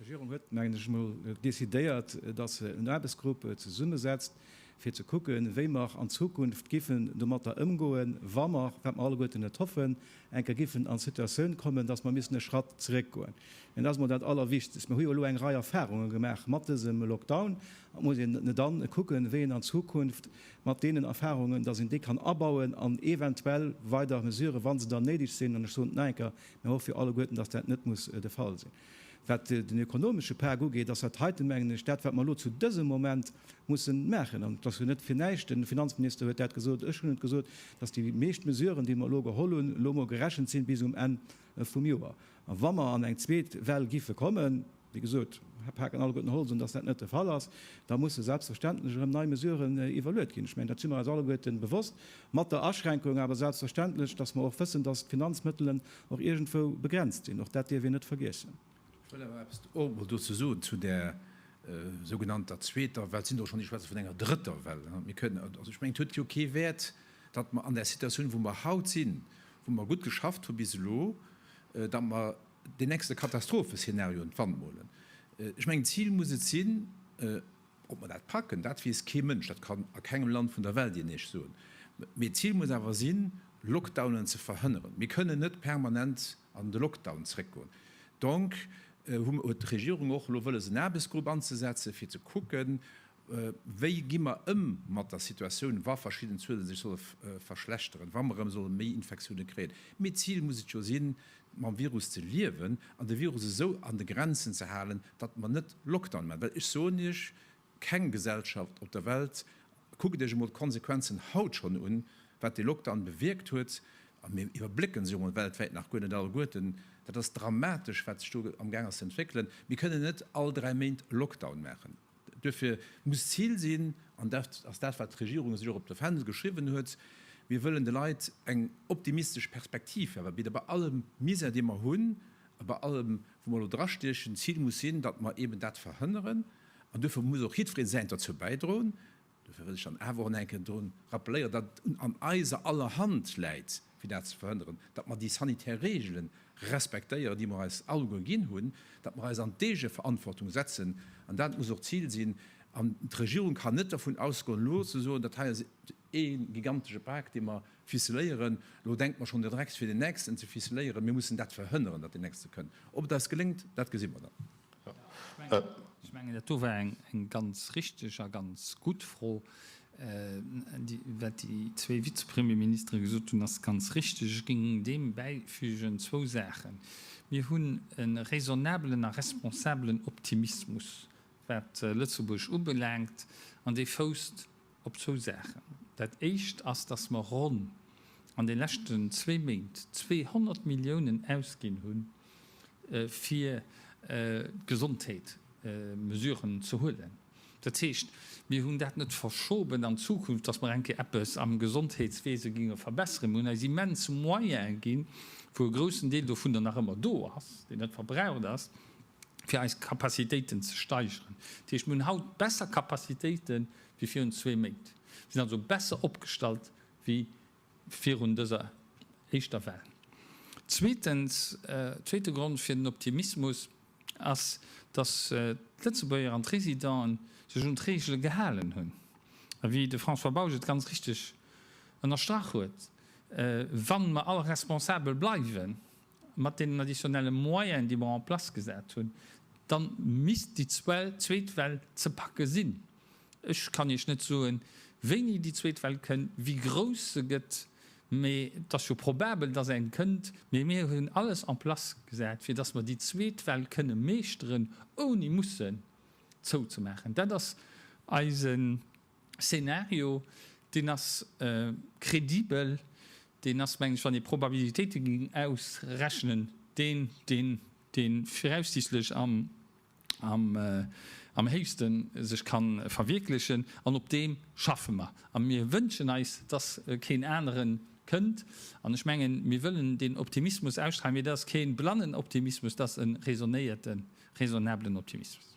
D'Regierung huet, mengen ech emol, decidéiert, dass se en Aarbechtsgrupp zesummesetzt, fir ze kucken, wéi mer an Zukunft giffen domatter ëmgoen, wa mer, wat mer alleguerten net hoffen, eng Kéier géifen an d'Situatioun kommen, dass mer missen e Schratt zeréck goen, an dat ass mol dat Allerwichtegst. Mir hu jo elo eng Rei Erfahrungen gemaach mat dësem Lockdown, an et muss een dann kucken, wéi een an Zukunft mat deenen Erfahrungen, dass een déi kann abauen an eventuell weider Mesuren, wa se dann néideg sinn, an ech soen et nach eng Kéier, mir hoffen jo alleguerten, dass dat net muss de Fall sinn. Wat den ökonomesche Pak ugeet, ass dat heiten, mengen ech, dat, wat mer elo zu dësem Moment mussen maachen. An et ass jo net fir näischt, de Finanzminister huet dat gesot, ech hunn et gesot, dass déi meescht Mesuren, déi mer elo geholl hunn, elo emol gerechent sinn bis um Enn vum Joer. A wa mer an eng zweet Well géife kommen, wéi gesot, hab Pak an alleguerten Holz un, dass dat net de Fall ass, da musse selbstverständlech erëm nei Mesuren iwwerluet ginn. Ech mengen, dat si mer eis alleguerten bewosst, mat der Aschränkung awer selbstverständlech, dass mer och wëssen, dass d'Finanzmëttelen Och iergendwou begrenzt sinn, och dat dierf een net vergiessen. Ech wëll awer eppes och emol dozou soen, zu där sougenannter zweeter Well. Et sinn der och schonn, déi schwätze vun enger drëtter Well. Mir kënnen, also ech mengen, et huet jo kee Wäert, datt mer an där Situatioun, wou mer haut sinn, wou mer gutt geschafft hu bis elo, datt mer deen nächste Katastropheszenario ins Wand molen. Ech mengen, d'Zil muss et sinn, Ob mer dat packen, dat weess kee Mënsch, dat kann a kengem Land vun der Welt een Iech soen. Mee d'Zil muss awer sinn, Lockdownen ze verhënneren. Mir kënnen net permanent an de Lockdown zréckgoen. Donc huet d'Regierung och elo wëlles en Aarbechtsgrupp anzesetzen, fir ze kucken, wéi gi mer ëm mat der Situatioun, wa verschidden Zuele sech solle verschlechteren, wa mer erëm solle méi Infektioune kréien. Mee d'Zil muss et jo sinn, mam Virus ze liewen an de Virus esou an de Grenzen ze halen, datt mer net Lockdown maachen. Well ech soen Iech, keng Gesellschaft op der Welt, kuckt Iech emol d'Konsequenzen haut schonn un, wat dee Lockdown bewierkt huet, a mir iwwerblécke se jo emol weltwäit nach guer net alleguerten, dat ass dramatesch, wat sech do am gaang ass ze entwéckelen. Mir kënnen net all dräi Méint Lockdown maachen. Duerfir muss d'Zil sinn, an dat ass dat, wat d'Regierung sech och op de Fändel geschriwwen huet, Mir wëllen de Leit eng optimistesch Perspektiv awer bidden, bei allem Misär, dee mer hunn, a bei allem, wou mer elo drastiechen. D'Zil muss sinn, datt mer eeben dat verhënneren, an duerfir muss och jiddweree Säint derzou bäidroen. Dofir wëll ech dann awer och nach eng Kéier drun rappelléieren, datt et un an eiser aller Hand läit, fir dat ze verhënneren, datt mer déi sanitär Reegele respektéieren, déi mer eis alleguer ginn hunn, datt mer eis an d'Eegeverantwortung setzen. An dat muss och d'Zil sinn. An d'Regierung kann net dervun ausgoen, elo ze soen, Dat hei ass ee gigantesche Pak, dee mer ficeléieren, elo denke mer schonn de Drecks fir deen nächsten ze ficeléieren. Mir mussen dat verhënneren, datt deen nächste kënnt. Ob et eis geléngt, dat gesi mer dann. Ech mengen, dat do war eng ganz richtig a ganz gutt Fro. Wat déi zwee Vizepremierministere gesot hunn, ass ganz richtig. Ech géing deem bäifügen zwou Saachen. Mir hunn e raisonnabelen a responsabelen Optimismus, wat Lëtzebuerg ubelaangt, an dee fousst Op zwou Saachen. Dat éischt ass, dass mer ronn an de leschten zwee Méint 200 Milliounen ausginn hu fir d'Gesondheetsmesuren ze huelen. Dat heescht, mir hunn dat net verschoben an d'Zukunft, dass mer eng Kéier eppes am Gesondheetswese géinge verbesseren. Mir hunn eis immens Moyene ginn, wou e groussen Deel dovunner nach ëmmer do ass, deen net verbraucht ass, fir eis Capacitéiten ze steigeren. Dat heescht, mir hunn haut besser Capacitéiten, wéi virun zwee Méint. Mir sinn also besser opgestallt wéi virun dëser éischter Well. Zweetens, zweete Grond fir den Optimismus ass, datt d'Lëtzebuerger an d'Residenten sech un d'Reegele gehalen hunn. A wéi de François Bausch et ganz richteg ënnerstrach huet, Wa mer all responsabel bleiwen, Mat deenen additionnelle Moyene, déi mer en place gesat hunn, da misst déi zweet Well ze packe sinn. Ech kann Iech net soen, wéini déi zweet Well kënnt, wéi grouss se gëtt, mä et ass jo probabel, dass eng kënnt. Mä mir hunn alles en place gesat, fir dass mer déi zweet Well kënne meeschteren, ouni mussen zouzemaachen. Dat ass eisen. Szenario, deen ass kredibel, deen ass, mengen ech, wann ee Probabilitéite géing ausrechnen, deen, dee viraussiichtlech am héichste sech ka verwierklechen. An op deem schaffe mer. A mir wënschen eis, dass keen anere kënnt. An ech mengen, mir wëllen deen Optimismus ausstralen, mee dat ass kee blannen Optimismus, dat ass e raisonnéierten, raisonnablen Optimismus.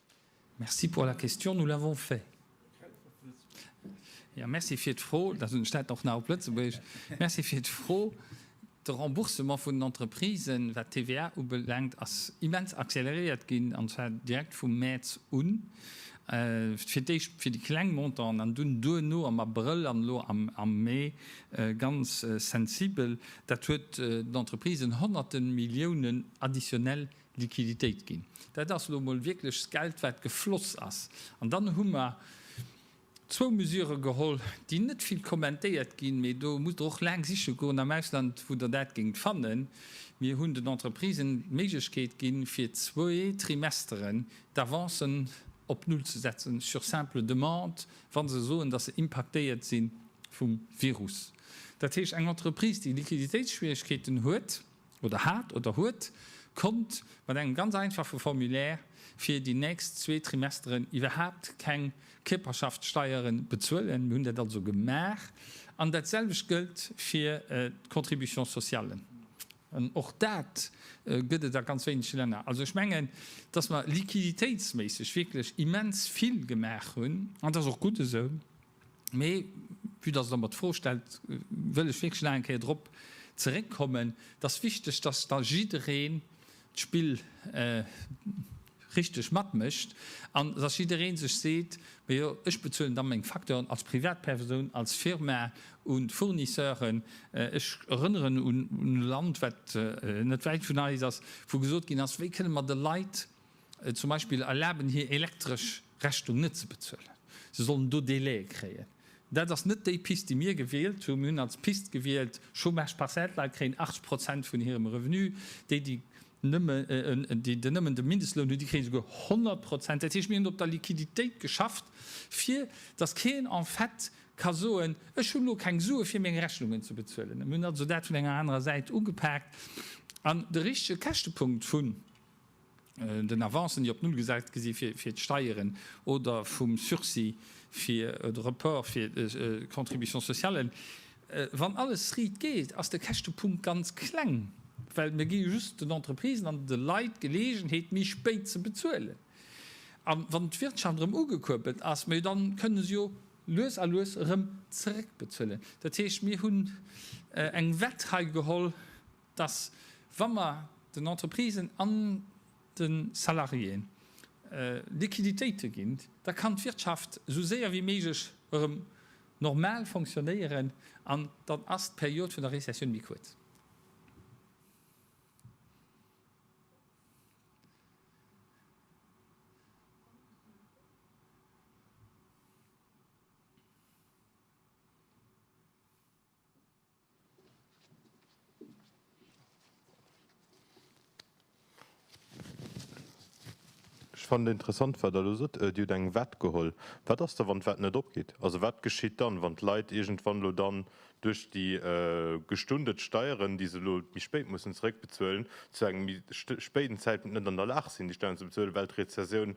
Merci pour la question, nous l'avons fait. Jo, merci fir d'Fro. Dat hunn ech dat och nach op Lëtzebuergesch. Merci fir d'Fro. De Remboursement vun den Entreprisen, wat d'TVA ubelaangt, ass immens accéléréiert ginn, an zwar direkt vum Mäerz un, fir d'éischt fir déi kleng Montanten an dunn duerno am Abrëll an elo am Mee ganz sensibel. Dat huet den Entreprisen Honnerte Milliounen additionnel Liquiditéit ginn. Dat ass elo emol wierklech d'Geld, wat gefloss ass. An dann hu mer zwou Mesure geholl, déi net vill kommentéiert ginn, mee do musst Der och laang siche goen am Ausland, wou Der dat géingt fannen. Mir hunn den Entreprisen d'Méiglechkeet ginn, fir zwee Trimesteren d'Avancen op Null ze setzen, sur simple demande, wa se soen, dass se impaktéiert si vum Virus. Dat heescht, eng Entreprise, déi Liquiditéitsschwieregkeeten huet, oder hat oder huet, konnt mat engem ganz einfache Formulaire fir déi nächst zwee Trimesteren iwwerhaapt keng Kierperschaftssteiere bezuelen. Mir hunn dat also gemaach. An dat selwecht gëllt fir d'Contribution sociale. An och dat gëtt et a ganz wéinege Länner. Also ech mengen, dass mer liquiditéitsméisseg wierklech immens vill gemaach hunn. An dat ass och gutt esou. Mee, vue dass Der mer d'Fro stellt, wëll ech wierklech nach eng Kéier drop zeréckkommen. Et ass wichteg, dass da jiddereen d'Spill richteg matmécht an dass jidderee sech seet, Mee jo, ech bezuelen da meng Facturen als Privatpersoun, als Firma un d'Fournisseuren. Ech erënneren un e Land, wat net wäit vun eis ass, wou gesot ginn ass, Wéi kënne mer de Leit, Zum Beispill erlaben, hir elektresch Rechnung net ze bezuelen. Se sollen do Délaië kréien. Dat ass net déi Pist, déi mir gewielt hunn. Mir hunn als Pist gewielt, Chômage partiel, d'Leit kréien 80 Prozent vun hirem Revenu. Déi, déi nëmmen de Mindestloun hunn, déi kréie souguer 100 Prozent. Dat heescht, mir hunn op der Liquiditéit geschafft, fir dass keen en fait ka soen, Ech hunn elo keng Sue fir meng Rechnungen ze bezuelen. Mir hunn also dat vun enger anerer Säit ugepaakt. An de richtege Käschtepunkt vun den Avancen, déi op Null gesat gi si fir d'Steieren, oder vum Sursis fir, oder Report fir d'Contributions sociallen, wann alles riit geet, ass de Käschtepunkt ganz kleng, well mir gi jo just den Entreprisen an de Leit d'Geleegenheet, méi spéit ze bezuelen. A wann d'Wirtschaft erëm ugekuerbelt ass, ma jo da kënne se jo lues a lues erëm zeréckbezuelen. Dat heescht, mir hunn eng Wett hei geholl. dass wa mer den Entreprisen an de Salariéë Liquiditéite ginn, da kann d'Wirtschaft esou séier wéi méiglech erëm normal fonctionnéieren an dann ass d'Period vun der Rezessioun méi kuerz. Ech fannen et interessant wat Der elo sot, Dir hutt eng Wett geholl. Wat ass da wann d'Wett net opgeet? Also wat geschitt dann, wann d'Leit iergendwann elo dann duerch déi gestundert Steieren, déi se elo méi spéit mussen zeréckbezuelen, zu engem méi spéiden Zäitpunkt net an der Lag sinn déi Steieren ze bezuelen, well d'Rezessioun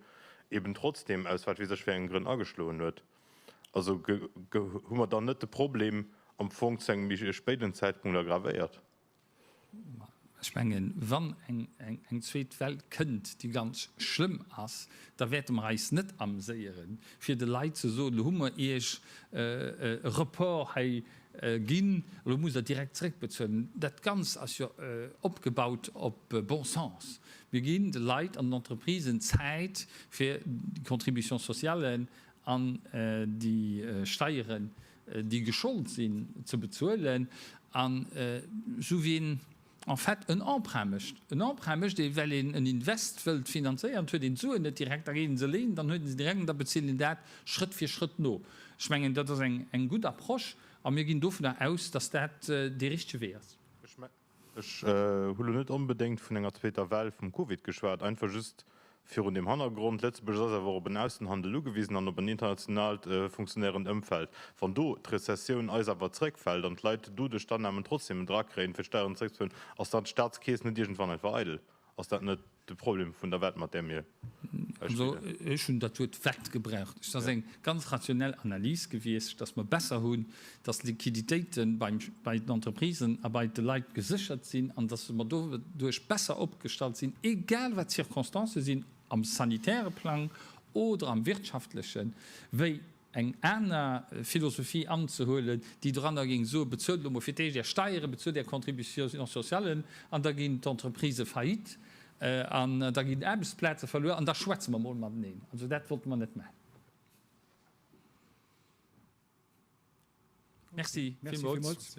eben trotzdem, aus wat weess ech fir engen Grënn, ageschloen huet? Also hu mer dann net de Problem am Fong zu engem méi spéiden Zäitpunkt aggravéiert? Ech mengen, wann eng zweet Well kënnt, déi ganz schlëmm ass, da wäerte mer eis net amséiere fir de Leit ze soen, elo hu mer iech e Report hei ginn, elo musst der direkt zeréckbezuelen. Dat Ganzt ass jo opgebaut op bon sens. Mir ginn de Leit an den Entreprisen Zäit fir d'Contributions sociales an déi Steieren, déi geschollt sinn, ze bezuelen, an esou wéi een en fait en Emprunt mécht, en Emprunt mécht ee well een en Invest wëllt finanzéieren, huet een d'Suen net direkt, da geet een se léinen, dann huet een se direkt an da bezilt een dat Schrëtt fir Schrëtt no. Ech mengen dat ass eng gutt Approche a mir ginn dovunner aus, datt dat dee richtege Wee ass. Ech hu lo net onbedéngt vun enger zweeter Well vum Covid geschwat, einfach just virun dem Hannergrond, Lëtzebuerg ass awer op en Aussenhandel ugewisen an op en internationaalt funktionéierend Ëmfeld. Wann do d'Rezessioun eis awer zeréckfält an d'Leit doduerch d'Annamen trotzdem en Dra kréien, fir d'Steieren zeréckzeféieren, ass dann d'Staatskeess net iergendwann einfach eidel? Ass dat net de Problem vun der Wett, mat där mir hei spillen? Ech hunn dat Wuert Wett gebraucht. Et ass eng ganz rationell Analys gewiescht, dass mer besser hunn, dass d'Liquiditéite bei den Entreprisen a bei de Leit geséchert sinn an dass mer doduerch besser opgestallt sinn, egal wat d'Circonstancë sinn am sanitäre Plang oder am wirtschaftlechen, wéi eng aner Philosophie anzehuelen, déi doranner géing soen, bezuelt elo mol fir d'éischt Är Steieren, bezuelt Är Contributions sociallen an da ginn d'Entreprisë faillite an da ginn Aarbechtsplaze verluer an da schwätze mer mol mateneen. Also dat wollte mer net maachen. Merci villmools.